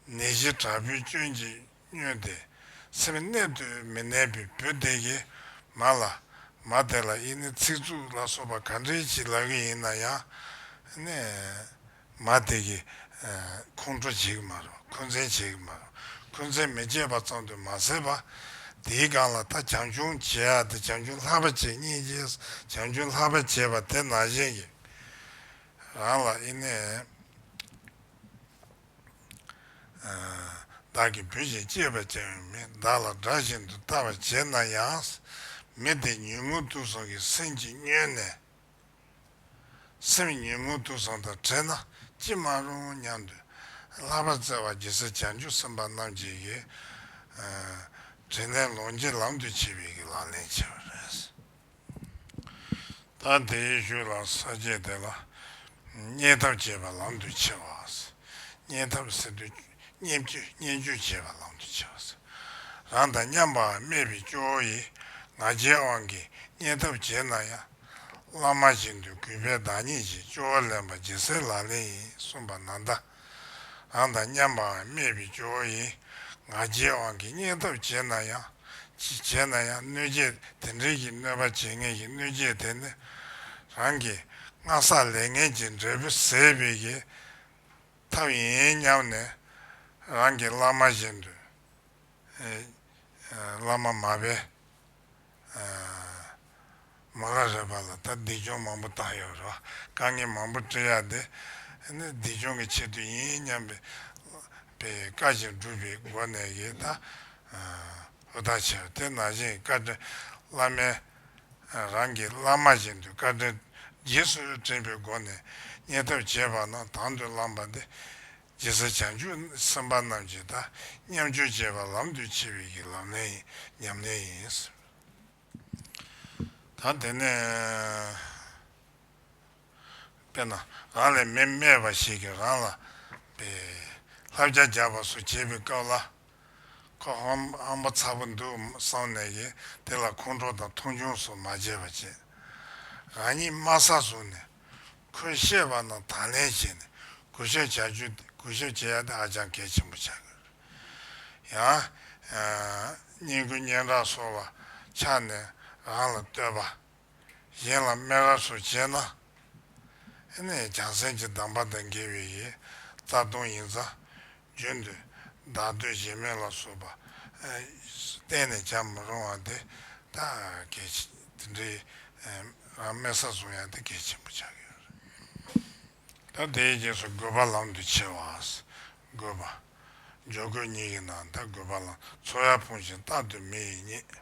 Speaker 1: ནད་གཞི་དྲག་པོའི་སྐྱོན་གྱིས་སྨྱོས་ཏེ་སེམས་གནད་དུ་མི་གནས་པའི་བུ་དེ་གས་མ་ལ། མ་དེ་ལ་ཨི་ནི་ཚིག་རྩུབ་ལ་སོགས་པ་ག་འདྲའི་བྱིན་ལབ་ཀྱི་ཡིན་ན་ཡང། ནས། མ་དེ་གས། ཁོང་ཁྲོ་བྱེད་ཀྱི་མ་རུ་འཁོན་འཛིན་བྱེད་ཀྱི་མ་རུ་འཁོན་འཛིན་མི་བྱེད་པ་ཙམ་དུ་མ་ཟད་པ། དེའི་སྒང་ལ་ད་བྱང་ཆུང་བྱེད་ཡག་དེ་བྱང་ཆུང་ལྷག་པ་བྱེད་གཉིས་ཀྱིས་བྱང་ཆུང་ལྷག་པ་བྱེད་པ་དེ་ནང་བཞིན་གྱི། རང་ལ་ཨི་ནི། བདག་གིས་བུ་ཞིག་གཅེས་པར་བྱ་བའི་མི་བདག་ལ་དགྲ་བཞིན་དུ་ལྟ་བར་བྱེད་ན་ཡང། མི་དེ་ཉོན་མོངས་དུག་ཟོང་གིས་སེམས་ཀྱིས་བསྙོན་ནས། སེམས་ཉོན་མོངས་དུག་ཟོང་དང་བྲལ་ན་ཅི་མ་རུང་སྙམ་དུ། ལྷག་པར་བརྩེ་བ་གྱི་སྲས་བྱང་ཆུབ་སེམས་དཔའ་རྣམས་ཀྱིས་ཀྱི། དྲིན་ལན་ལོངས་སྤྱོད་ལམ་དུ་བྱེད་པའི་ལག་ལེན་བྱེད་པ་རེད། ད་དེའི་རྒྱུད་ལ་ས་བརྒྱད་དེ་ལ་རྙེད་ཐབས་བྱེད་པ་ལམ་དུ་ཆས་པ། རྙེད་ཐབས་ཟེར་དུས་རྙེད་རྒྱུ་བྱེད་པ་ལམ་དུ་ཆས་པ། རང་དང་མཉམ་པར་སྨྲས་པའི་སྐྱོ་བོ་ཡིས་ང་རྒྱལ་དབང་གིས་རྙེད་ཐབས་བྱེད་ན་ཡང། བླ་མ་བྱེད་འདོད་གུས་པས་བདག་ཉིད་ཀྱིས་སྐྱོ་བོ་ལེན་པ་ཇི་སྲིད་ལག་ལེན་ཡིན་གསུངས་པ་ན་བདག་རང་དང་མཉམ་པའང་སྨད་པའི་སྦྱོར་བ་ཡིན། ང་རྒྱལ་དབང་གི་སྙིང་སྟོབས་བརྗེད་ན་ཡང། བརྗེད་ན་ཡང་གནོད་བྱེད་དེ་འབྲེལ་གྱི་གནོད་པ་བྱེད་ངེས་ཀྱི་གནོད་བྱེད་དེ་ནི། རང་གི་སྔ་བསགས་ལས་ངན་གྱི་འབྲས་བུ་ཟད་པའི་གི་ཐབས་ཡིན་སྙམ་ནས། རང་གི་བླ་མ་བཞིན་དུ། བླ་མ་མ་དཔལ། མ་ག་རེ་བ་ལ་ད་འདི་ཅོང་མང་པོ་བཏང་ཡོད་རེད་བ་དཀའ་ངལ་མང་པོ་སྤྲད་ཡ་དེ་ནི་འདི་ཅོང་གི་ཆེད་དུ་ཡིན་སྙམ་པའི་པའི་བཀའ་བཞིན་སྒྲུབ་པའི་སྒོ་ནས་ཡི་ད་ཧུ་ད་བྱས་པ་དེ་ན་བཞིན་བཀའ་དྲིན་བླ་མའི་རང་གི་བླ་མ་བཞིན་དུ་བཀའ་དྲིན་རྗེས་སུ་དྲན་པའི་སྒོ་ནས་གཉེར་ཐབས་བྱས་པ་ན་དང་དུ་བླངས་པ་འདི་རྗེ་ས་བྱང་ཆུབ་སེམས་དཔའ་རྣམས་ཀྱི་དག་མཉམ་སྤྱོད་བྱེད་པ་ལམ་དུ་ཆས་པའི་ཀྱི་ལམ་ལས་ཉམས་ལེན་ཡིན། དང་དེ་ནས། དཔེར་ན་རང་ལས་མི་སྨད་པ་ཞིག་གིས་རང་ལ། པའི། ལྷ་བརྒྱ་རྒྱག་པ་སོགས་བྱེད་པའི་སྐབས་ལ། ཁོ་ཧམ་པ་ཚ་པོ་འདུག་བསམ་ནས་ཀྱི་དེ་ལ་ཁོང་ཁྲོ་དང་མཐོང་ཆུང་སོགས་མ་བྱས་པ་བྱེད། རང་ཉིད་དམའ་ས་བཟུང་ནས། ཁོས་བཤད་པ་དང་དང་ལེན་བྱས་ནས་གུས་ཞབས་བྱ་རྒྱུ་དེ་གུས་ཞབས་བྱེད་ཡ་དེ་ཧ་ཅང་གལ་ཆེན་པོ་ཆགས་ཀྱི་རེད། ཡང། སྙིང་རྒུད་སྙན་གྲགས་སོགས་ལ་ཆགས་ནས་རང་ལ་བསྟོད་པ། གཞན་ལ་སྨད་ར་སོགས་བྱས་ན། ཨེ་ནས་ཀྱང་སེམས་ཀྱི་གདམས་པ་དང་འགལ་བའི་ཡས་རྩ་ལྟུང་ཡིན་ཙང། རྒྱུན་དུ་བདག་བསྟོད་བྱེད་མེད་ལ་བསོད་པ་གཏན་ནས་བྱ་མི་རུང་བ་དེ་དག་གལ་ཆེ། དེ་འདྲའི་རང་དམན་ས་བཟུང་ཡང་དེ་གལ་ཆེན་པོ་ཆགས་ཀྱི་རེད། ད་དེའི་རྗེས་སུ་དགོས་པ་ལམ་དུ་ཁྱེར་བ། དགོས་པ། འཇོག་དགོས་གཉིས་ཀྱི་ནང་ད་དགོས་པ་ལམ་འཚོལ་ཡར་ཕུང་ཞིང་རྟག་ཏུ་མི་ཡི་རྙེད།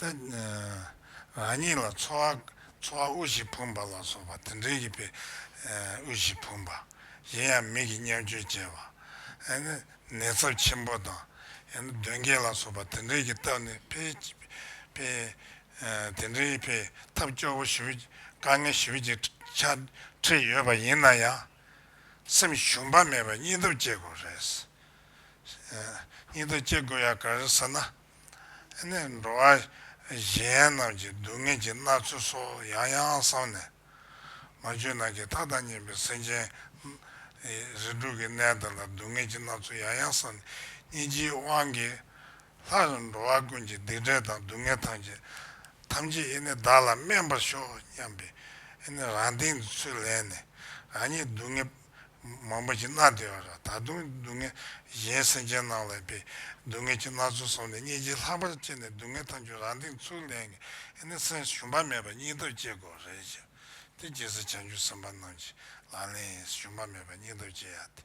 Speaker 1: རང་ཉིད་ལ་འཚོ་བ་དབུལ་ཞིང་ཕོངས་པ་ལ་སོགས་པ་དེ་འདྲའི་ཡིད་པས་དབུལ་ཞིང་ཕོངས་པ། གཞན་ཡང་མིག་གིས་མཉམ་སྤྱོད་བྱེད་པ། ནད་ཚབས་ཆེན་པོ་དང་གདོན་བགེགས་ལ་སོགས་པ་དེ་འདྲའི་གྱི་སྟབས་ནས་ཕེབས། དེ་འདྲའི་ཕེབས་ཐབས་སྐྱོ་བོ་བཞི་བཅུ་དཀའ་ངལ་བཞི་བཅུ་ཆ་ཁྲི་ཡོད་པ་ཡིན་ན་ཡང། སེམས་ཞུམ་པ་མེད་པར་སྙིང་སྟོབས་བསྐྱེད་དགོས་རེད། སྙིང་སྟོབས་བསྐྱེད་དགོས་ཡ་ག་རེད་ཟེར་ན། ནས་འགྲོ་བ་གཞན་རྣམས་ཀྱི་སྡུག་བསྔལ་གྱི་མནར་ཚུལ་སོགས་ཡང་ཡང་བསམ་ནས། མ་བཅོས་ནང་གི་ཐག་དང་གཉེན་པའི་སེམས་ཅན། རིགས་དྲུག་གི་གནས་དག་ལ་སྡུག་བསྔལ་གྱི་མནར་ཚུལ་ཡང་ཡང་བསམ་ནས་སྙིང་རྗེའི་དབང་གིས། ལྷ་རྣམས་འགྲོ་བ་ཀུན་གྱི་སྡིག་འབྲས་དང་སྡུག་བསྔལ་ཐམས་ཅད་ཐམས་ཅད་ཨེ་ནི་བདག་ལ་སྨན་པར་ཤོག་སྙམ་པས་ཨེ་ནི་རང་སྟེང་དུ་ཚུར་ལེན་ནས་རང་ཉིད་སྡུག་བསྔལ་མང་པོ་གྱིས་མནར་ཏེ་ཨོ་ར་ད་དུང་སྡུག་བསྔལ་གཞན་སེམས་ཅན་རྣམས་ལ་པའི་སྡུག་བསྔལ་གྱི་ན་ཚོད་སོང་ནས་སྙིང་རྗེ་ལྷག་པར་སྐྱེས་ནས་སྡུག་བསྔལ་ཐམས་ཅད་རང་སྟེང་ཚུར་ལེན་ནས་ཨེ་ནི་སེམས་ཞུམ་པ་མེད་པར་སྙིང་སྟོབས་སྐྱེ་དགོས་རེ་བྱ་སྟེ་རྒྱལ་སྲིད་བྱང་ཆུབ་སེམས་དཔའ་རྣམས་ཀྱིས་ལག་ལེན་ཡིན་ཞུམ་པ་མེད་པར་སྙིང་སྟོབས་སྐྱེ་ཡ་སྟེ།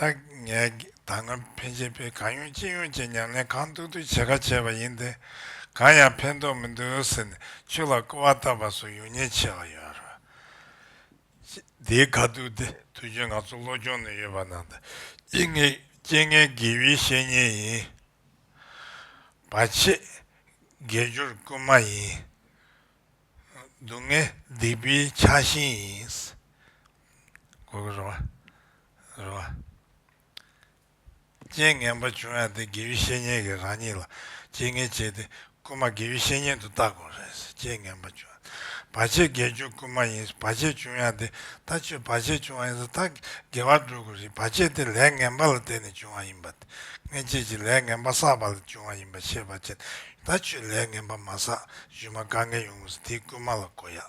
Speaker 1: ད་ངས་ད་སྔ་ཕན་ཆད་པའི་གང་ཡོང་ཅི་ཡོང་བཅས་མྱངས་ནས་གང་ཐུག་ཐུག་བྱེད་ཁ་བྱས་པ་ཡིན་ཏེ། གང་ཡང་ཕན་ཐོགས་མི་འདུག་ཟེར་ནས་ཆུ་ལ་ཀོ་བ་བཏབ་པ་སོགས་ཡོང་ཉེན་ཆེ་བ་ཡོད་རེད། དེའི་ཁ་ཐུག་དེ་དུས་རྒྱུན་ང་ཚོ་བློ་སྦྱོང་ནས་ཡོད་པ་ནང་དུ་སྐྱེ་ངན་དགེ་བའི་བཤེས་གཉེན་ཡིན། བ་ཆེས་དགེ་སྦྱོར་དཀོན་མ་ཡིན། སྡུག་བསྔལ་སྡིག་པའི་ཆགས་ཞེན་ཡིན། དགོས་ཀྱི་རེད་བ། རེད་བ། རྐྱེན་ངན་པ་བྱུང་ཡང་དེ་དགེ་བའི་བཤེས་གཉེན་གྱིས་རང་ཉིད་ལ་རྐྱེན་ངན་བྱས་ཏེ་རྐུན་མ་དགེ་བའི་བཤེས་གཉེན་དུ་བཏགས་དགོས་རེད་ཟེར་རྐྱེན་ངན་པ་བྱུང་ཡང་བར་ཆད་དགེ་སྦྱོར་རྐུན་མ་ཡིན་བར་ཆད་བྱུང་ཡང་དེ་ད་ཆོས་བར་ཆད་བྱུང་བ་ཡིན་ཟེར་ད་དགེ་བར་འགྲོ་དགོས་རེད་བར་ཆད་དེ་ལས་ངན་པ་ལ་བརྟེན་ནས་བྱུང་བ་ཡིན་པ་དེ་སྔན་ཆད་ཀྱི་ལས་ངན་པ་བསགས་པ་ལས་བྱུང་བ་ཡིན་པ་ཤེས་པ་ཅན་ད་ཆོས་ལས་ངན་པ་མ་བསགས་གཞུས་མ་དཀའ་ངལ་ཡོང་ངོ་ཟེར་དེའི་རྐུན་མ་ལ་གོ་ཡག་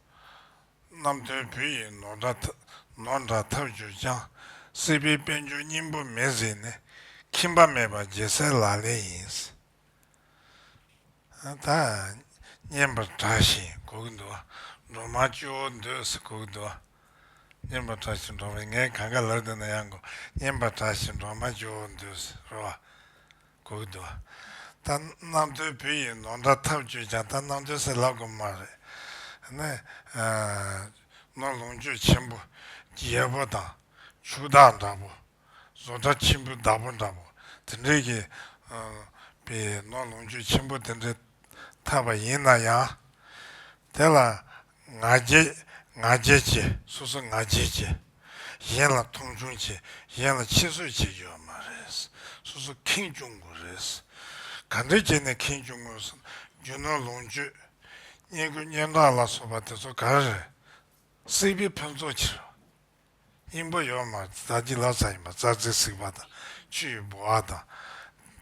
Speaker 1: རྣམ་ཐོས་བུ་ཡིས་ནོར་འདྲ་ནོར་འདྲ་ཐབས་བརྒྱུད་ཀྱང། སྲིད་པའི་དཔལ་འབྱོར་སྙིང་པོ་མེད་ཟིན་ནས། ཁྱིམ་པ་མེད་པ་རྒྱལ་སྲས་ལ་ལས་ཡིན། ད་བསྙེན་པར་གྲགས་ཤིང་སྒུག་འདུག། འགྲོ་མང་སྤྱི་བོར་འདོད་སྲིད་སྒུག་འདུག། བསྙེན་པར་གྲགས་ཤིང་འགྲོ་མ་ངའི་གངས་དཀར་ལགས་འདི་ན་ཡང་སྒུག། བསྙེན་པར་གྲགས་ཤིང་འགྲོ་མང་སྤྱི་བོར་འདོད་སྲིད་རོ། གོ་གི་འདུག་ད་རྣམ་ཐོས་བུ་ཡིས་ནོར་འདྲ་ཐབས་བརྒྱུད་ཀྱང་ད་རྣམ་ཐོས་སེ་ལབ་དགོས་མ་རེད། ནས། ནོར་ལོངས་སྤྱོད་ཆེན་པོ། རྒྱལ་པོ་དང། ཕྱུག་བདག་འདྲ་པོ། བཟོ་གྲྭ་ཆེན་པོའི་བདག་པོ་འདྲ་པོ་དེ་འདྲའི་གི། པའི་ནོར་ལོངས་སྤྱོད་ཆེན་པོ་དེ་འདྲའི་ཐབས་པ་ཡིན་ན་ཡང། དེ་ལ། ང་རྒྱལ། ང་རྒྱལ་བྱེད། སོ་སོ་ང་རྒྱལ་བྱེད། གཞན་ལ་མཐོང་ཆུང་བྱེད། གཞན་ལ་ཕྱི་གསོད་བྱེད་རྒྱུ་བ་མ་རེད། སོ་སོ་ཁེངས་སྐྱུང་དགོས་རེད། ག་འདྲའི་རྐྱེན་ནས་ཁེངས་སྐྱུང་དགོས་སམ། རྒྱུ་ནོར་ལོངས་སྤྱོད། བསྙེན་བཀུར་སྙན་གྲགས་ལ་སོགས་པ་དེ་ཚོ་ག་རེ་རེད། སྲིད་པའི་ཕུན་ཚོགས་ཕྱིར། སྙིང་པོ་ཡོད་མ་བདག་གི་ལག་ཆ་ཡིན་པ་རྩ་རྩེ་གཟིགས་པ་དང་ཆུ་ཡི་ལྦུ་བ་དང།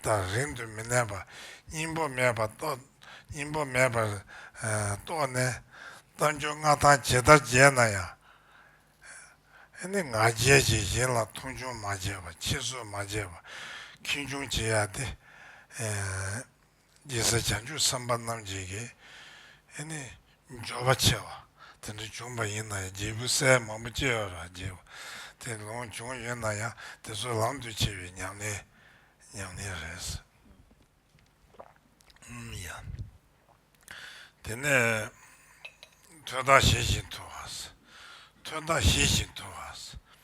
Speaker 1: དང་རིང་དུ་མི་གནས་པ། སྙིང་པོ་མེད་པར་རྟོགས། སྙིང་པོ་མེད་པར་རྟོགས་ནས། གཏམ་རྒྱུད་མངའ་ཐང་ཇི་ལྟར་རྒྱས་ན་ཡང། ནི་ང་རྒྱལ་གྱིས་གཞན་ལ་མཐོང་ཆུང་མ་བྱས་པ་ཁྱེད་སུས་མ་བྱས་པ། ཁེངས་སྐྱུང་བྱེད་ཡ་སྟེ། རྗེ་སྲས་བྱང་ཆུབ་སེམས་དཔའ་རྣམས་ཀྱིས་ཀྱི། ཨེ་ནི། འབྱོར་བ་ཆེ་བ་དེ་འདྲ་བྱུང་བ་ཡིན་ན་ཡང་རྒྱལ་བུ་སྲས་མང་པོ་སྐྱེ་བར་བགྱི། དེ་ལོངས་བྱུང་ཡོད་ན་ཡང་དེ་ཚོ་ལམ་དུ་ཆས་པའི་ཉམས་ལེན། ཉམས་ལེན་རེད། ཨུམ་ཡ། དེ་ནས། ཐོད་རྟགས་བཞེས་ཤིང་འཐུ་བ། ཐོད་རྟགས་བཞེས་ཤིང་འཐུ་བ།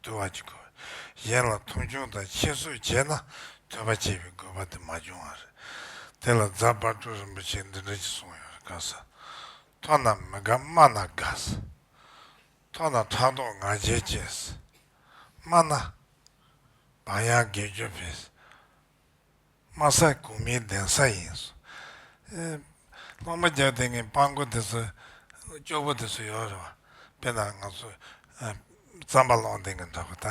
Speaker 1: བསྡུ་བ་གཅིག་དགོས། གཞན་ལ་མཐོང་ཆུང་དང་ཁྱད་གསོད་བྱས་ན་ཐོས་པ་བཅད་པའི་དགོས་པ་དེ་མ་འབྱུང་བ་རེད། དེ་ལ་རྫ་དཔའ་སྤྲུལ་རིན་པོ་ཆེས་འདི་འདྲ་ཅིག་གསུངས་ཡོད་རེད་དགའ་ས། མཐོ་ན་མི་དགའ་དམའ་ན་དགའ་ས། མཐོ་ན་ཕྲག་དོག་ང་རྒྱལ་སྐྱེ་ས། དམའ་ན། བག་ཡངས་དགེ་སྐྱོན་འཕེལ་ས། དམའ་ས་གོང་མའི་གདན་ས་ཡིན། སློབ་མ་བརྒྱ་དེ་ངའི་དཔང་མགོ་དེ་ཚོ་སྐྱོ་པོ་དེ་ཚོ་ཡོད་རེད་བ། དཔེར་ན་ང་ཚོ་རྩམ་པ་སློང་དེ་གི་འདྲ་བ་ད་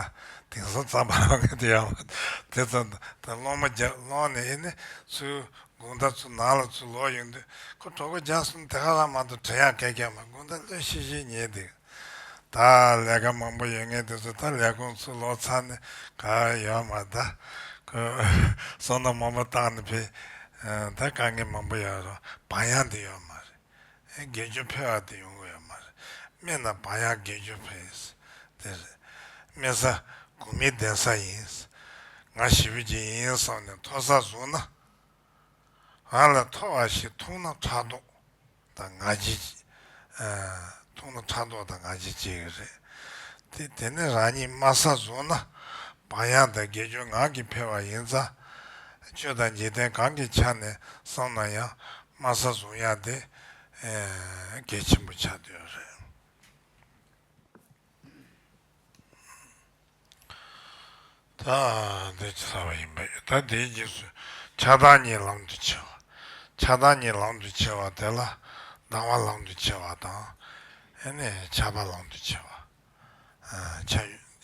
Speaker 1: དེང་སང་རྩམ་པ་སློང་མཁན་དེ་ཡོད་རེད་བ། དེ་ཚོ་ད་སློབ་མ་བརྒྱ་སློང་ནས་ཨེ་ནི་ཚུལ་དགུང་ཟླ་ཚོ་ནང་ལ་ཚུལ་ལོག་ཡོང་དུས་ཁོ་གྲོགས་པོ་བརྒྱ་གསུམ་དེ་ག་རང་མང་དུ་དྲན་ཡག་སྐད་རྒྱག་མ་དགུང་ཟླ་ལོས་ཤེས་ཤེས་ཉེས་འདུག། ད་ལས་ཀ་མང་པོ་ཡོད་ངེས་དེ་ཚོ་ད་ལས་ཁུངས་ཚུར་ལོག་ཚར་ནས་ག་ཡོད་མ་ད་ཁོས་བསོད་ནམས་མང་པོ་བཏང་ནས་ཕེ་ད་དཀའ་ངལ་མང་པོ་ཡོད་རོགས་བག་ཡངས་དེ་ཡོད་མ་རེད་ཨེ་དགེ་བཅུ་ཕེ་བ་དེ་ཡོང་གི་ཡོད་མ་རེད་སྨན་ན་བག་ཡངས་དགེ་བཅུ་ཕེ་དེ་རེད་སྨན་ས་དགུ་མི་བདེན་ས་ཡིན་ང་ཞི་བུ་གཅིག་ཡིན་སོང་ནས་མཐོ་ས་བཟུང་ན། ང་ལ་མཐོ་བ་ཞིག་མཐོང་ན་ཕྲག་དོག་དང་ང་རྒྱལ་མཐོང་ན་ཕྲག་དོག་དང་ང་རྒྱལ་སྐྱེ་གི་རེད། དེ་དེ་ནས་རང་ཉིད་དམའ་ས་བཟུང་ན་བག་ཡངས་དང་དགེ་སྐྱོན་ངང་གིས་འཕེལ་བ་ཡིན་ཙང། སྤྱོད་དང་འཇིག་རྟེན་གང་གི་ཆ་ནས་བསམ་ན་ཡང་དམའ་ས་བཟུང་ཡག་དེ་གལ་ཆེན་པོ་ཆགས་དོན་རེད། ད་ལྟའི་རྗེས་ཚར་བ་ཡིན་པ་ཡོད་ད་ལྟའི་རྗེས་སུ་ཆགས་སྡང་ཉིད་ལམ་དུ་ཆེ་བ། ཆགས་སྡང་ཉིད་ལམ་དུ་ཆེ་བ་དེ་ལ་སྡང་བ་ལམ་དུ་ཆེ་བ་དང། ཨེ་ནས་ཆགས་པ་ལམ་དུ་ཆེ་བ། ཆ་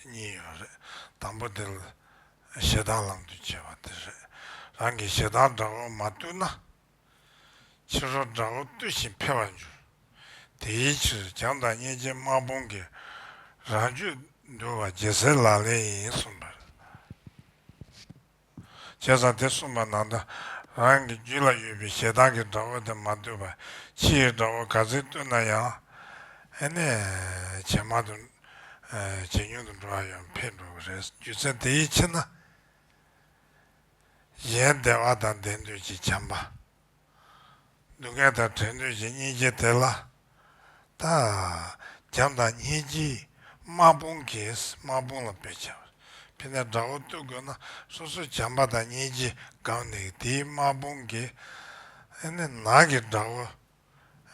Speaker 1: གཉིས་ཡོད་རེད། དང་པོ་དེ་ཞེ་སྡང་ལམ་དུ་ཆེ་བ་དེ་རེད། རང་གི་ཞེ་སྡང་དགྲ་བོར་མ་བཏུལ་ན། ཕྱི་རོལ་དགྲ་བོ་བཏུལ་ཞིང་འཕེལ་བར་འགྱུར། དེའི་ཕྱིར་རྒྱང་དང་སྙེད་ཅན་དམག་དཔུང་གིས་རང་རྒྱུད་འདུལ་བ་རྒྱལ་སྲས་ལག་ལེན་ཡིན་གསུངས་པར། བྱས་ཙང་དེ་གསུངས་པ་ནང་དུ་རང་གི་རྒྱུད་ལ་ཡོད་པའི་ཞེ་སྡང་གི་དགྲ་བོ་དེ་མ་བཏུལ་བར་ཕྱི་ཡི་དགྲ་བོ་ག་ཚད་བཏུལ་ན་ཡང། ཨེ་ནས་ཇེ་མང་དུ། ཇེ་ཉུང་དུ་འགྲོ་བ་ཡང་འཕེལ་འགྲོ་གི་རེད་རྒྱུ་མཚན་དེའི་ཕྱིར་ན། གཞན་བདེ་བ་དང་ལྡན་འདོད་ཀྱི་བྱམས་པ། སྡུག་བསྔལ་དང་བྲལ་འདོད་ཀྱི་སྙིང་རྗེ་དེ་ལ། བྱམས་དང་སྙིང་རྗེའི་དམག་དཔུང་གིས་དམག་དཔུང་ལ་བེད་སྤྱད་པ། ཕི་ནས་དགྲ་བོ་བཏུལ་དགོས་ན་སོ་སོ་བྱམས་པ་དང་སྙིང་རྗེས་སྒང་ནས་དེའི་དམག་དཔུང་གིས་ནག་གི་དགྲ་བོ་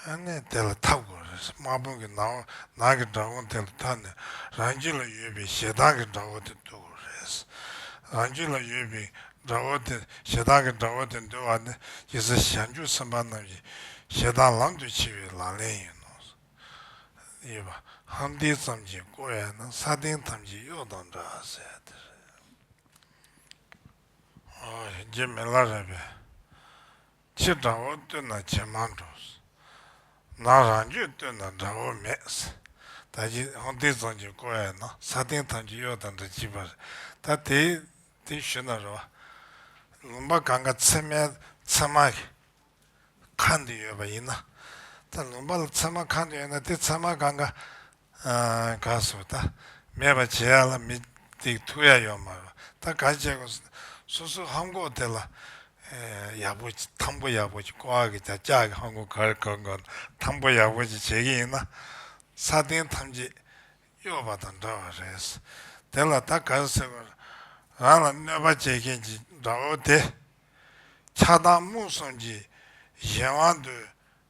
Speaker 1: ཨ་ནེ་དེ་ལ་མཐའ་དགོས་རེད་དམག་དཔོན་གྱི་ནང་ནང་གི་དགྲ་དགོང་དེ་ལ་མཐའ་ནས་རང་རྒྱུད་ལ་ཡོད་པའི་ཞེ་སྡང་གི་དགྲ་བོ་དེ་འདུལ་དགོས་རེད། རང་རྒྱུད་ལ་ཡོད་པའི་དགྲ་བོ་དེ་ཞེ་སྡང་གི་དགྲ་བོ་དེ་འདུལ་བ་ནི་ཡེ་སྲས་ཞབས་འཇུག་སེམས་དཔའ་རྣམས་ཀྱི་ཞེ་སྡང་ལམ་དུ་ཕྱིན་བའི་ལག་ལེན་ཡིན་ནོ། གཡས་པ། ཧམ་ཏིག་ཙམ་གྱིས་བསྐོར་བས་ན་ས་སྟེང་ཐམས་ཅད་གཡོག་དང་འདྲ་ཟེར་བ་དེ་རེད། རྗེ་མི་ལ་རས་པས། ཕྱི་དགྲ་བོ་བཏུལ་ན་ཇེ་མང་འགྲོ། ནང་རང་རྒྱུད་བཏུལ་ན་དགྲ་བོ་མེད། ད་ཅི་ཧོང་ཏི་རྫོང་གི་ཀོ་ཨེ་ན་ས་སྟེང་ཐམས་ཅད་གཡོག་དང་འདྲ་བགྱིས་པ་རེད་ད་དེ་དེ་ཞུ་ན་རོ། ལུང་པ་གང་ག་ཚེར་མའི་ཚེར་མ་གི་ཁ་འདི་ཡོད་པ་ཡིན་ན། ད་ལུང་པ་ལ་ཚེར་མ་ཁ་འདི་ཡོད་ན་དེ་ཚེར་མ་གང་ག་དགའ་བསུ་ད་མེད་པ་བྱེད་ཡག་ལ་མི་སྡིག་ཐུག་ཡག་ཡོད་མ་རོ་ད་དགའ་བྱེད་དགོ་སུ་སུ་ཧམ་གོག་དེ་ལ་ཡག་པོ་ཐང་པོ་ཡག་པོ་ཅིག་ཀོ་ཨ་གི་ད་ཅག་གི་ཧམ་གོག་གར་གོ་གོ་ཐང་པོ་ཡག་པོ་ཅིག་བྱེད་ཀྱི་ཡིན་ན་ས་སྟེང་ཐམས་ཅད་གཡོ་བ་དང་འདྲ་བ་རེད་དེ་ལ་ད་དགའ་ཟེར་བ་རང་ལ་གནོད་པ་བྱེད་མཁན་གྱི་དགྲ་བོ་དེ་ཆགས་སྡང་རྨུགས་གསུམ་གྱི་གཞན་དབང་དུ་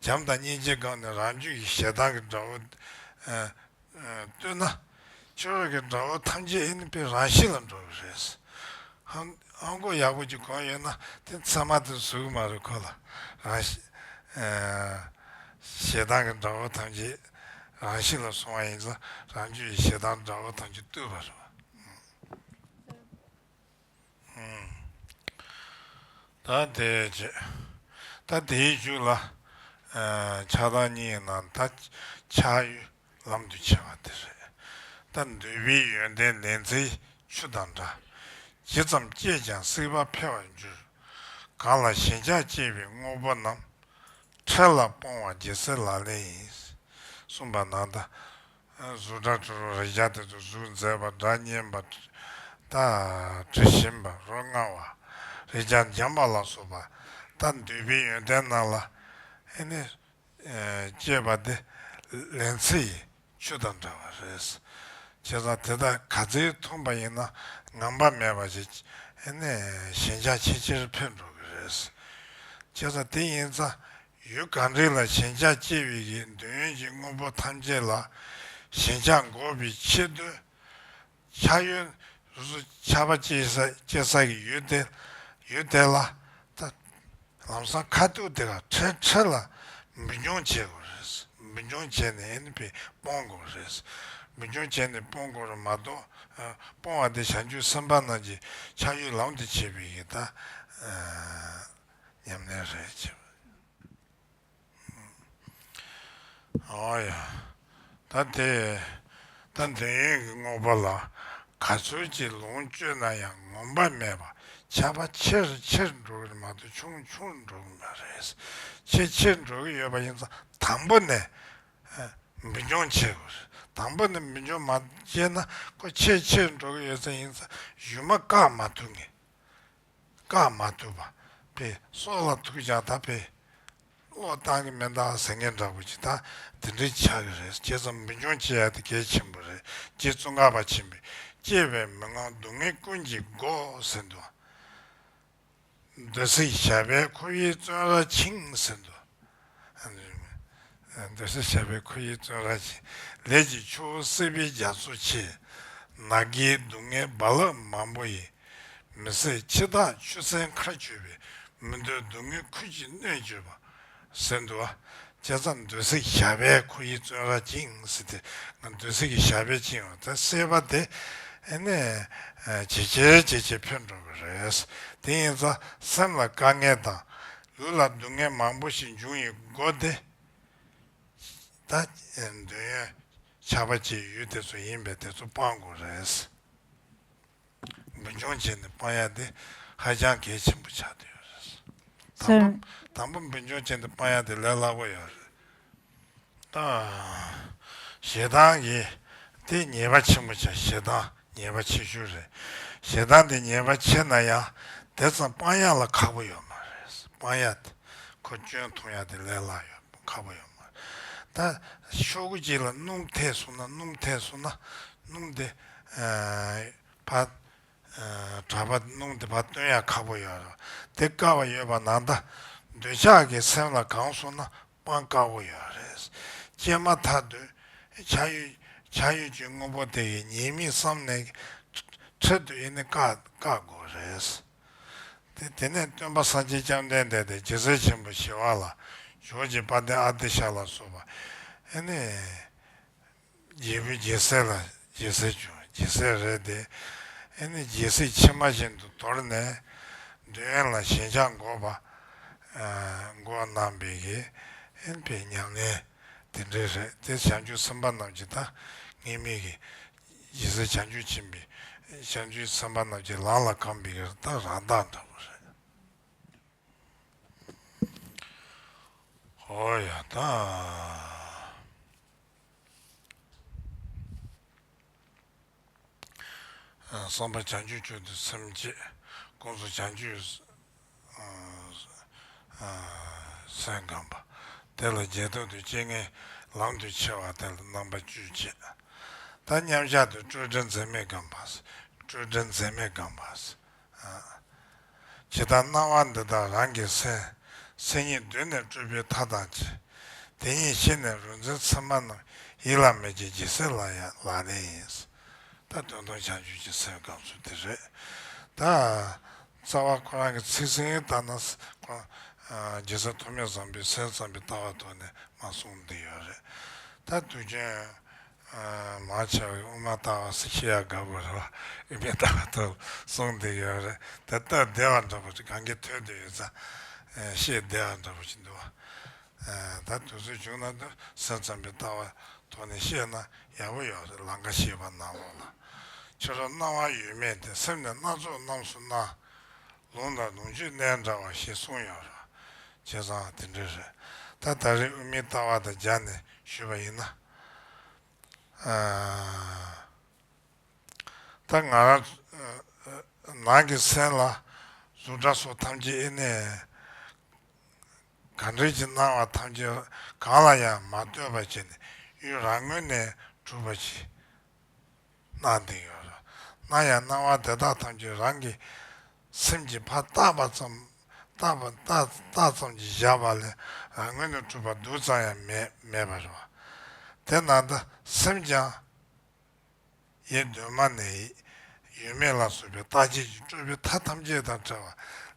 Speaker 1: བྱམས་དང་སྙིང་རྗེས་བསྒང་ནས་རང་རྒྱུད་ཀྱི་ཞེ་སྡང་གི་དགྲ་བོ། བསྟོད་ན། ཆོས་རོགས་ཀྱི་དགྲ་བོ་ཐམས་ཅད་ཨིན་ཕེ་རང་ཤི་ལ་འགྲོ་གི་རེད། ཧང་ཧང་ཀོ་ཡག་པོ་ཅིག་གོ་ཡོད་ན་དེ་ཚང་མ་དེ་བཟོ་གི་མ་རེད་ཁོ་ལ་རང། ཞེ་སྡང་གི་དགྲ་བོ་ཐམས་ཅད་རང་ཤི་ལ་སོང་བ་ཡིན་ཙང་རང་རྒྱུད་ཀྱི་ཞེ་སྡང་དགྲ་བོ་ཐམས་ཅད་བཏུལ་བ་རེད། ད་དེའི་མཇུག་ལ། ཆགས་སྡང་གཉིས་རྣམས་ད་ཆགས་ཡུལ་ལམ་དུ་ཆས་པ་དེ་རེད། ད་འདོད་པའི་ཡོན་ཏན་ལན་ཚྭའི་ཆུ་དང་འདྲ། ཇི་ཙམ་བསྐྱེད་ཀྱང་སྲིད་པ་འཕེལ་བར་འགྱུར། གང་ལ་ཞེན་ཆགས་སྐྱེས་པའི་དངོས་པོ་རྣམས། འཕྲལ་ལ་སྤོང་བ་རྒྱལ་སྲིད་ལག་ལེན་ཡིན། གསུངས་པ་ན་ད། གཟུགས་སྒྲ་དྲི་རོ་རེག་བྱ་དེ་ཚོ་གཟུགས་མཛེས་པ་སྒྲ་སྙན་པ། དྲི་ཞིམ་པ་རོ་མངར་བ། རེག་བྱ་འཇམ་པ་ལ་སོགས་པ། ལྟར་འདོད་པའི་ཡོན་ཏན་རྣམས་ལ། ཧེ་ནི། སྐྱེས་པ་འདི། ལན་ཚེ་ཡི། ཆུ་དང་འདྲ་བ་རེད། བྱས་ཙང་དེ་དག་ག་ཚེ་འཐུངས་པ་ཡིན་ན་ངང་པ་མེད་པ་ཞིག། ཧེ་ནི། ཞེན་ཆགས་ཆེ་ཆེར་འཕེལ་འགྲོ་གི་རེད། བྱས་ཙང་དེ་ཡིན་ཙང་ཡུལ་གངས་རི་ལ་ཞེན་ཆགས་སྐྱེ་བའི་གིས་འདོད་ཡོན་གྱི་དངོས་པོ་ཐམས་ཅད་ལ་ཞེན་ཆགས་འགོག་པའི་ཕྱིར་འདོད་ཆགས་ཡོན་རུ་ཆགས་པ་སྐྱེ་ས་ཀྱི་ཡུལ་ཡུལ་དེ་ལ་ལམ་སང་ཁ་ཐུག་དེ་ག་ཁྲེ་ཁྲེ་ལ་འབུད་རྐྱང་བྱེད་དགོས་རེད་འབུད་རྐྱང་བྱས་ནས་ཡིན་པས་སྤོང་དགོས་རེད་འབུད་རྐྱང་བྱས་ནས་སྤོང་དགོས་རེད་མ་གཏོགས་སྤོང་བ་དེ་བྱང་ཆུབ་སེམས་དཔའ་རྣམས་ཀྱི་ཆགས་ཡུལ་ལམ་དུ་བྱེད་པའི་གིས་ད་ཉམས་ལེན་རེད་བྱས་པ། ཨོ་ཡ། ད་དེ། ད་འདོད་ཡོན་གྱི་དངོས་པོ་ལ་ག་ཚོད་ཅིག་ལོངས་སྤྱོད་ན་ཡང་ངོམས་པ་མེད་པ་ཆགས་པ་ཆེར་ཆེར་འགྲོ་གི་མ་གཏོགས་ཆུང་ཆུང་འགྲོ་གི་མ་རེད། ཆེར་ཆེར་འགྲོ་གི་ཡོད་པ་ཡིན་ཙང་དང་པོ་ནས་འབུད་འཇོང་བྱེད་དགོས་རེད། དང་པོ་ནས་འབུད་འཇོང་མ་བྱས་ན་ཁོ་ཆེར་ཆེར་འགྲོ་གི་ཡོད་ས་ཡིན་ཙང་གཞུ་མ་བཀག་མ་ཐུབ་ངེས། བཀག་མ་ཐུབ་པ། པའི་སྲོག་ལ་ཐུག་ཀྱང་ད་པའི་བློ་བཏང་གི་མེད་འདའ་ཟེར་མཁན་འདྲ་པོ་ཅིག་ད་དེ་འདྲའི་ཆགས་ཀྱི་རེད་བྱས་ཙང་འབུལ་འཇོང་བྱེད་ཡ་དེ་གལ་ཆེན་པོ་རེད་རྗེ་བཙུན་ཁ་བ་ཆེན་པོས་སྐྱེས་པའི་མི་དངང་སྡུག་བསྔལ་ཀུན་གྱི་མགོ་ཟེར་འདུག་འདོད་སྲེད་ཞབས་པད་ཁོ་བོའི་བཙོན་ར་འཆིང་ཟེར་འདུག། འདོད་སྲེད་བྱ་བའི་ཁུར་ཡིག་བཙོན་ར་ཅན། ལས་ཀྱི་ཆུ་བོ་བསིལ་བའི་རྒྱ་མཚོ་ཆེ། ན་རྒས་སྡུག་བསྔལ་རྦ་རླབས་མང་པོ་ཡིས། མི་བསད་འཆི་བདག་ཆུ་སྲིན་མཁའ་སྤྱོད་པའི། མི་འདོད་སྡུག་བསྔལ་ཁུར་གྱིས་གནོད་སྤྱོད་པ། ཟེར་འདུག་བ། བྱས་ཙང་འདོད་སྲེད་བྱ་བའི་ཁུར་ཡིག་བཙོན་ར་ཅན། འདོད་སྲེད་ཀྱི་བྱ་བའི་ཅན་བ་དེ་སེལ་བ་དེ། ཇེ་ཆེར་ཇེ་ཆེར་འཕེལ་འགྲོ་གི་རེད། དེ་ཡིན་ཙང་སེམས་ལ་དཀའ་ངལ་དང། ལུས་ལ་སྡུག་བསྔལ་མང་པོ་ཞིག་འབྱུང་ཡི་སྒོ་སྟེ། ད་འདོད་ཡོན་ཆགས་པ་ཅི་ཡོད་དེ་ཚོ་ཡིན་པས་དེ་ཚོ་སྤང་དགོས་རེད། འབུ་འཇོང་བྱས་ནས་སྤང་ཡག་དེ་ཧ་ཅང་གལ་ཆེན་པོ་ཆགས་ཡོད་རེད།
Speaker 2: དང་པོ་འབུ་
Speaker 1: འཇོང་བྱས་ནས་སྤང་ཡག་དེ་ལས་སླ་པོ་ཡོད་རེད། ཞེ་སྡང་གི། དེ་ཉེས་པ་ཆེན་པོ་ཆགས་ཞེ་སྡང་ཉེས་པ་ཆེ་ཤོས་རེད། ཞེ་སྡང་དེ་ཉེས་པ་ཆེ་ན་ཡང་དེ་ཙམ་དཔང་ཡག་ལ་ཁག་པོ་ཡོད་མ་རེད། དཔང་ཡག་དེ་ཁོ་སྐྱོན་མཐོང་ཡག་དེ་ལས་ལྷག་ཡོད་ཁག་པོ་ཡོད་མ་རེད། ད་ཤོག་གུ་གཅིག་ལ་སྣུམ་ཐེག་བཟུང་ན་སྣུམ་ཐེག་བཟུང་ན་སྣུམ་དེ་བ། གྲྭ་པ་སྣུམ་དེ་བ་སྟོན་ཡག་ཁག་པོ་ཡོད་རེད། དེ་དཀའ་བ་ཡོད་པ་ནང་ད། འདོད་ཆགས་ཀྱི་སེམས་ལ་གང་སོང་ན་སྤང་དཀའ་བོ་ཡང་རེད། སྤྱད་མ་ཐག་ཏུ་བྱ་ཡུལ་བྱ་ཡུལ་གྱི་དངོས་པོ་དེ་ཡི་ཉེས་དམིགས་བསམ་ནས་འཕྲལ་དུ་ཡི་ནི་བཀག་བཀག་དགོས་རེད། དེ་དེ་ནས་སྟོན་པ་ས་སྐྱའི་སྐྱབས་ལྡན་འདས་དེ་རྗེ་གསེར་ཆེན་པོ་ཞི་བ་ལ་ཞོག་ཅིག་དཔའ་ལྡན་ཨ་ཏི་ཤ་ལ་སོགས་པ་ཡི་ནི། རྒྱལ་བུ་རྒྱལ་སྲས་ལ་རྒྱལ་སྲས་བྱུང་རྒྱལ་སྲས་རེད་དེ། ཨེ་ནི་རྒྱལ་སྲིད་ཕྱི་མ་བཞིན་དུ་དོར་ནས། འདོད་ཡོན་ལ་ཞེན་ཆགས་འགོག་པ། འགོག་རྣམས་པའི་གེ། ཨེ་ནི་པའི་མྱ་ངན་དེ་འདྲའི་རེད་དེ་བྱང་ཆུབ་སེམས་དཔའ་རྣམས་ཀྱི་ད་ངེས་མི་གེ། རྒྱལ་སྲས་བྱང་ཆུབ་ཕྱིན་པའི་བྱང་ཆུབ་སེམས་དཔའ་རྣམས་ཀྱི་ལག་ལ་གང་བིག་ར་ད་རང་དག་འདྲ་པོ་རེད། ཧོ་ཡ་ད། གསང་བ་བྱང་ཆུབ་སྤྱོད་དུ་སེམས་བསྐྱེད། དཀོན་མཆོག་བྱང་ཆུབ་སེམས་བསྐང་བ། དེ་ལ་རྗེས་ཐོག་ཏུ་སྤྱན་ལྔའི་ལམ་དུ་ཆས་བ་དེ་ལ་རྣམ་པ་བཅུས་འཆད། ད་མཉམ་གཞག་ཏུ་སྤྲོས་བྲལ་འཛིན་མེད་བསྐང་བ། སྤྲོས་བྲལ་འཛིན་མེད་བསྐང་བ། ཇི་ལྟར་སྣང་བ་འདི་དག་རང་གི་སེམས། སེམས་ཉིད་གདོད་ནས་སྤྲུལ་པའི་མཐའ་དང་བཅས། དེ་ཉིད་ཤེས་ནས་རོལ་མཛད་ཚད་མ་རྣམས། ཡིད་ལ་མེད་ཀྱི་སྦྱིན་སྲེག་ལ་ཡང་ལག་ལེན་ཡིན། ད་དོན་སྟོང་བྱང་ཆུབ་ཀྱི་སེམས་དགའ་ཚུལ་འདི་རེད། ད་རྩ་བ་ཁོ་རང་གི་ཚིག་ཟིན་ལྟར་ན། སྦྱིན་སྲེག་ཐོགས་མེད་བཟང་པོའི་སེམས་ཙམ་པའི་ལྟ་བ་ཐོག་ནས་མ་གསུངས་འདི་ཡོད་རེད། ད་དུས་རྒྱུན། མ་ཆགས་པའི་དབུ་མ་ལྟ་བ་སུ་ཤེས་ཡ་དགའ་པོ་རེད་བ་ཨི་མི་ལྟ་བ་ཐོབ་གསུངས་བསྡད་ཡོད་རེད་དེ་ལྟ་བསྡད་བ་འདྲ་པོ་ཅིག་གང་གི་ཐོས་བསྡད་ཡོད་ཙང་ཤེས་བསྡད་བ་འདྲ་པོ་ཅིག་འདུག་བ། ད་དུས་ཚོད་བྱུང་ན་དུས་ཚོད་ཙམ་གྱི་ལྟ་བ་ཐོག་ནས་བཤད་ན་ཡག་པོ་ཡོད་རེད་ལང་ཀ་ཤེས་པ་ནང་ལོག་ལ་ཕྱི་རོལ་སྣང་བ་ཡོད་མེད་དེ་སེམས་ནས་སྣ་ཚོགས་རྣམས་སུ་སྣང། ལུང་དང་ལུང་ཆོས་གནད་འདྲ་བ་ཞིག་གསུངས་ཡོད་རེད་བ། བྱས་ཙང་དེ་འདྲའི་རེད་ད་ད་རེས་དབུ་མའི་ལྟ་བ་དང་སྦྱར་ནས་ཞུས་པ་ཡིན་ན། ད་ང་རང་ནང་གི་སེམས་ལ་གཟུགས་སྒྲ་སོགས་ཐམས་ཅད་ཨེ་གནས། གང་འདྲེན་གྱི་སྣང་བ་ཐམས་ཅད་གང་ལ་ཡང་མ་ལྟོས་པར་བྱས་ནས་ཡུལ་རང་ངོས་ནས་གྲུབ་པར་གྱིས། སྣང་དེ་ཡོད། སྣང་ཡང་སྣང་བ་དེ་དག་ཐམས་ཅད་རང་གི་སེམས་ཀྱི་ཕ་རྟགས་པ་ཙམ་རྟགས་པ་རྟགས་ཙམ་གྱིས་བཞག་པ་ལས་རང་ངོས་ནས་གྲུབ་པ་རྡུལ་ཙམ་ཡང་མེད་པར་བ། དེ་ན་ད་སེམས་ཀྱང། ཡེ་གདོད་མ་ནས་ཡོད་མེད་ལ་སོགས་པའི་རྟགས་ཆད་ཀྱི་སྤྲོས་པའི་མཐའ་ཐམས་ཅད་དང་བྲལ་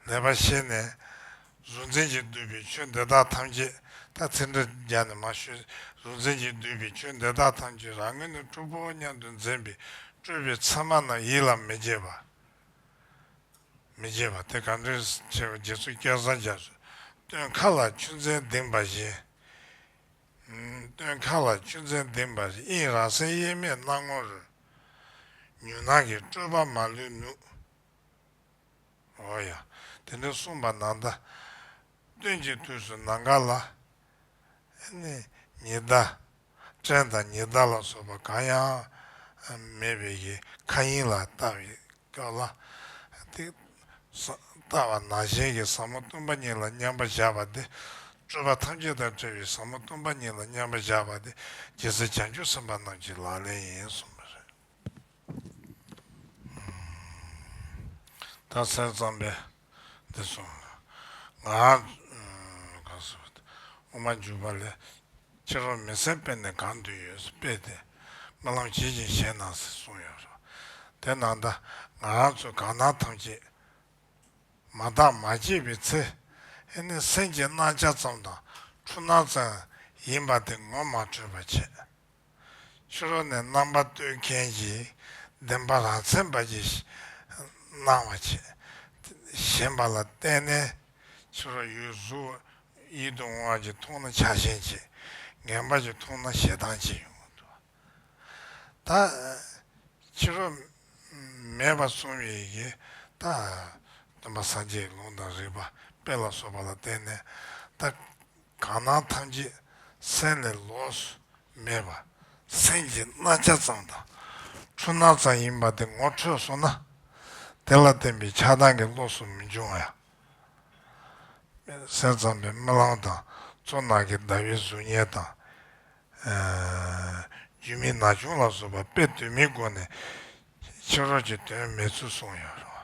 Speaker 1: བ་ལས་པར་ཤེས་ནས། གཟུང་འཛིན་གྱིས་བསྡུས་པའི་ཆོས་འདི་དག་ཐམས་ཅད་ད་ཚེ་འདྲེ་བརྒྱ་ནི་མ་ཤོད། གཟུང་འཛིན་གྱིས་བསྡུས་པའི་ཆོས་འདི་དག་ཐམས་ཅད་རང་ངོས་ནས་སྤྲུལ་པའོ་སྙམ་དུ་འཛིན་པས་སྤྲུལ་པའི་མཚན་མ་རྣམས་ཡིད་ལ་མི་བྱེད་པ། མི་བྱེད་པ་དེ་གང་འདྲེན་བྱེད་པ་རྗེ་བཙུན་སྐལ་བཟང་རྒྱ་མཚོས། སྟོན་མཁའ་ལ་ཆུ་མཚན་ལྡིང་བ་བཞིན། སྟོན་མཁའ་ལ་ཆུ་མཚན་ལྡིང་བ་བཞིན་དབྱིངས་རང་གསལ་དབྱེར་མེད་སྣང་ངོར་རོལ། མྱུར་སྣང་གི་སྤྲོས་པ་མ་ལུས་ནུབ། ཨོ་ཡ། དེ་འདྲ་གསུངས་པ་ནང་ད། སྟོན་གྱི་དུས་སུ་ནང་ག་ལ། ཉི་ཟླ། སྐྲན་དང་ཉི་ཟླ་ལ་སོགས་པ་གང་ཡང། མེད་པའི་གི་མཁའ་དབྱིངས་ལ་བལྟ་བའི་སྐབས་ལ། ཏེ། བལྟ་བ་ནང་བཞིན་གྱི་ཟབ་མོ་སྟོང་པ་ཉིད་ལ་མཉམ་པར་བཞག་པ་སྟེ། སྤྲོས་པ་ཐམས་ཅད་དང་བྲལ་བའི་ཟབ་མོ་སྟོང་པ་ཉིད་ལ་མཉམ་པར་བཞག་པ་སྟེ། རྒྱལ་སྲས་བྱང་ཆུབ་སེམས་དཔའ་རྣམས་ཀྱི་ལག་ལེན་ཡིན་གསུངས་པ་རེད། ད་གསན་བརྩམས་པས་འདི་སོང། ང། གང་ཟེར་བ་དེ། དབུ་མ་འཇུག་པ་ལས། ཁྱེད་རང་མི་གསལ་དཔེ་ནས་གང་འདོད་ཡོད་ས་དཔེ་དེ། སྨོན་ལམ་བྱེད་ཅིང་བཞེས་གནང་ཟེར་གསུངས་ཡོད་རེད། དེ་ན་ད། ང་རང་ཚོས་གང་སྣང་ཐམས་ཅད། མ་བརྟགས་མ་དཔྱད་པའི་ཚེ། ཨེ་ནི་སེམས་ཀྱི་སྣང་ཆ་ཙམ་དང། འཁྲུལ་སྣང་ཙམ། ཡིན་པ་དེ་ངོ་མ་འཕྲོད་པར་བྱེད། ཕྱི་རོལ་ནས་རྣམ་པ་གཏོད་མཁན་གྱི་བདེན་པ་རང་མཚན་པ་གྱིས་སྣང་བ་བྱེད། ཞེན་པ་ལ་བརྟེན་ནས་ཕྱི་རོལ་ཡུལ་གཟུགས་ཡིད་དུ་འོང་བ་གྱིས་མཐོང་ན་ཆགས་ཞེན་བྱེད། ངན་པ་གྱིས་མཐོང་ན་ཞེ་སྡང་བྱེད་ཡོང་གི་འདུག་ད། ཕྱི་རོལ་མེད་པར་སོང་བའི་ཡི་གེ་ད། སྟོན་པ་སངས་རྒྱས་ཀྱི་ལུང་དང་རིགས་པ་དཔེ་ལ་སོགས་པ་ལ་བརྟེན་ནས་ད། གང་སྣང་ཐམས་ཅད་སེམས་ལས་ལོགས་སུ་མེད་པ། སེམས་ཀྱི་རྣ་ཆ་ཙམ་དང། འཁྲུལ་སྣང་ཙམ་ཡིན་པ་དེ་ངོ་འཕྲོད་སོང་ན། དེ་ལ་བརྟེན་པའི་ཆགས་སྡང་གི་བློ་སུ་མི་འབྱུང་ཡང། སེམས་ཙམ་པའི་རྨི་ལམ་དང་གཙོ་ནག་གི་ཟླ་བའི་གཟུགས་བརྙན་དང། རྒྱུས་མེད་ན་ཆུང་ལ་བཟོ་པ་དཔེ་བསྡུས་མིན་སྒོ་ནས་ཕྱི་རོལ་གྱི་དོན་མེད་ཚུལ་གསུངས་ཡོད་རུང།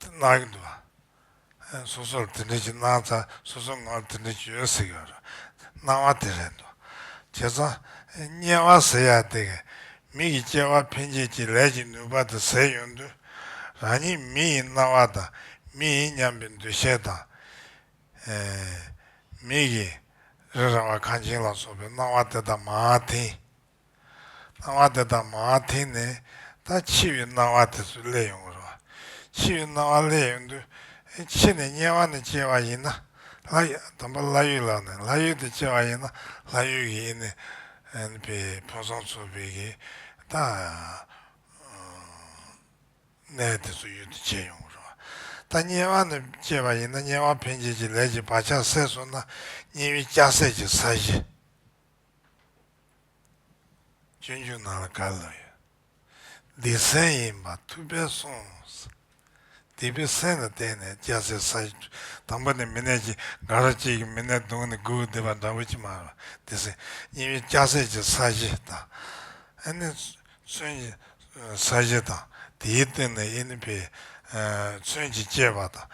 Speaker 1: གནང་གི་འདུག་སོ་སོར་དེ་འདྲའི་གྱི་གནང་ཚ་སོ་སོ་ངོ་དེ་འདྲའི་གྱི་ཡོད་ཟེར་གྱི་ཡོད་རེད་གནང་བ་དེ་རེད་འདུག་བྱས་ཙང་དམྱལ་བ་ཟེར་ཡག་དེ་གི་མི་གི་སྐྱེ་བ་འཕེན་བྱེད་ཀྱི་ལས་ཀྱི་ནུས་པ་དེ་ཟེར་ཡོད་འདུག་རང་ཉིད་མི་ཡི་རྣ་བ་དང་མི་ཡིན་སྙམ་པའི་འདུ་ཤེས་དང། མི་གི་རེ་ར་བ་གངས་ཅན་ལ་སོགས་པའི་གནང་བ་དེ་དང་མ་མཐིང། སྣང་བ་དེ་དག་མང་བ་དེ་ནི་ད་འཆི་བའི་སྣང་བ་དེ་ཚོས་བསླད་ཡོང་གི་རེད། འཆི་བའི་སྣང་བ་བསླད་ཡོང་དུས་འཆི་ནས་དམྱལ་བ་ནས་སྐྱེ་བ་ཡིན་ན། དང་པོ་ལྷ་ཡུལ་ལགས་ནས་ལྷ་ཡུལ་དུ་སྐྱེ་བ་ཡིན་ན་ལྷ་ཡུལ་གྱི་ཨེ་ནི་པའི་ཕུན་སུམ་ཚོགས་པའི་གི་ད་གནས་དེ་ཚོ་ཡུལ་དུ་སྐྱེ་ཡོང་གི་རེད། ད་དམྱལ་བ་ནས་སྐྱེ་བ་ཡིན་ན་དམྱལ་བ་ཕན་བྱེད་ཀྱི་ལས་ཀྱི་བག་ཆགས་སད་སོང་ན་དམྱལ་བའི་སྐྱ་སེར་གྱི་ས་གཞི། སྤྱོད་འཇུག་ནང་ལ་ག་ལ་ཡོད། འདི་གསན་ཡིན་པ་ཐུགས་ཕན་སོང། འདི་པོ་གསན་ལ་བརྟེན་ནས་སྐྱ་སེར་ས་གཞི་འཕྲོས། དང་པོ་ནས་མི་ནད་ཀྱི་འགའ་ར་གཅིག་གིས་མི་ནད་བརྡུངས་ནས་འགུལ་བསྡད་པ་འདྲ་བོ་ཅི་མ་རུང་འདི་གསན། གཉིས་པའི་སྐྱ་སེར་གྱི་ས་གཞི་དང། ཨེ་ནི་མཚོན་གྱི་ས་གཞི་དང་དེའི་སྟེང་ནས་ཨེ་ནི་པའི་མཚོན་གྱིས་བསྐྱེད་པ་དང།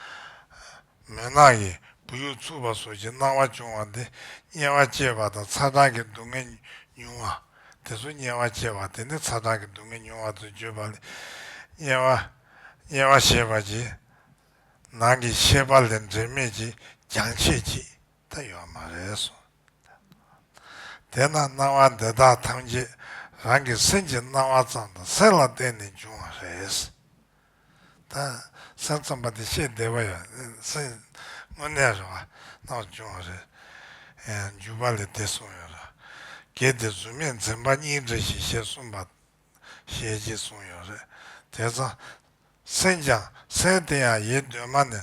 Speaker 1: མུན་ནག་གིས་བུ་ཡུག་འཚུབ་པ་སོགས་ཀྱི་སྣང་བ་འབྱུང་བ་འདི་དམྱལ་བ་སྐྱེས་པ་དང་ཚ་གྲང་གི་སྡུག་བསྔལ་མྱོང་བ། དེ་ཚོ་དམྱལ་བ་སྐྱེས་པ་དེ་ནི་ཚ་གྲང་གི་སྡུག་བསྔལ་མྱོང་བ་དུ་བརྗོད་པ་ལས། དམྱལ་བ། དམྱལ་བ་ཞེས་པ་གྱི་ནང་གི་ཤེས་པ་ལས་འབྲེལ་མེད་ཀྱི་རྒྱང་ཆད་ཅིག་ད་ཡོད་མ་རེད་གསུངས། དེས་ན་སྣང་བ་འདི་དག་ཐམས་ཅད་རང་གི་སེམས་ཀྱི་སྣང་བ་ཙམ་དང་སེམས་ལ་བརྟེན་ནས་འབྱུང་བ་རེད། ས་རྩོམ་པ་དེ་བཤད་བདེ་བ་ཡོད། དངོས་གནས་རེད་བ། རྣ་བ་ཅུང་བ་རེད། འཇུག་པ་ལས་དེ་གསུངས་ཡོད་རེད། གལ་ཏེ་གཟུགས་མེད་འཛིན་པ་གཉིས་འདྲ་ཞིག་ཞེས་གསུངས་པ། ཞེས་ཅིག་གསུངས་ཡོད་རེད། དེ་ཚང། སེམས་ཀྱང་སེམས་དེ་ཡང་ཡེ་གདོད་མ་ནས།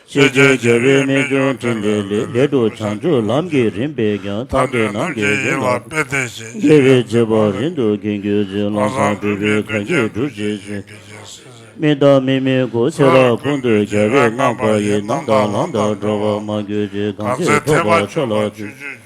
Speaker 2: ཤེས་བྱའི་རྒྱལ་པོའི་རྨད་བྱུང་ཕྲིན་ལས་ལས། འདི་དུ་བྱང་ཆུབ་ལམ་གྱི་རིམ་པས་ཀྱང་ཐར་པའི་ནང་གི་ཡན་ལག་དཔེ་བསྟན་བཞིན་རྒྱལ་བའི་བྱེད་པ་རིང་དུ་གྱེས་རྒྱུ་མཛོད་བླ་བཟང་སྤྲུལ་པའི་གར་གྱིས་སྒྲུབ་བྱེད་བཞིན། མི་དང་མི་མིན་སྐུ་ཚེ་རབས་ཀུན་ཏུ་རྒྱལ་བའི་བསྔགས་པ་ཡི་ནང་དང་ལམ་དང་འགྲོ་བ་མ་གྱུར་ཅིག་གང་ཚེ་ཐོབ་པར་མཆོག་ལ་བརྩོན།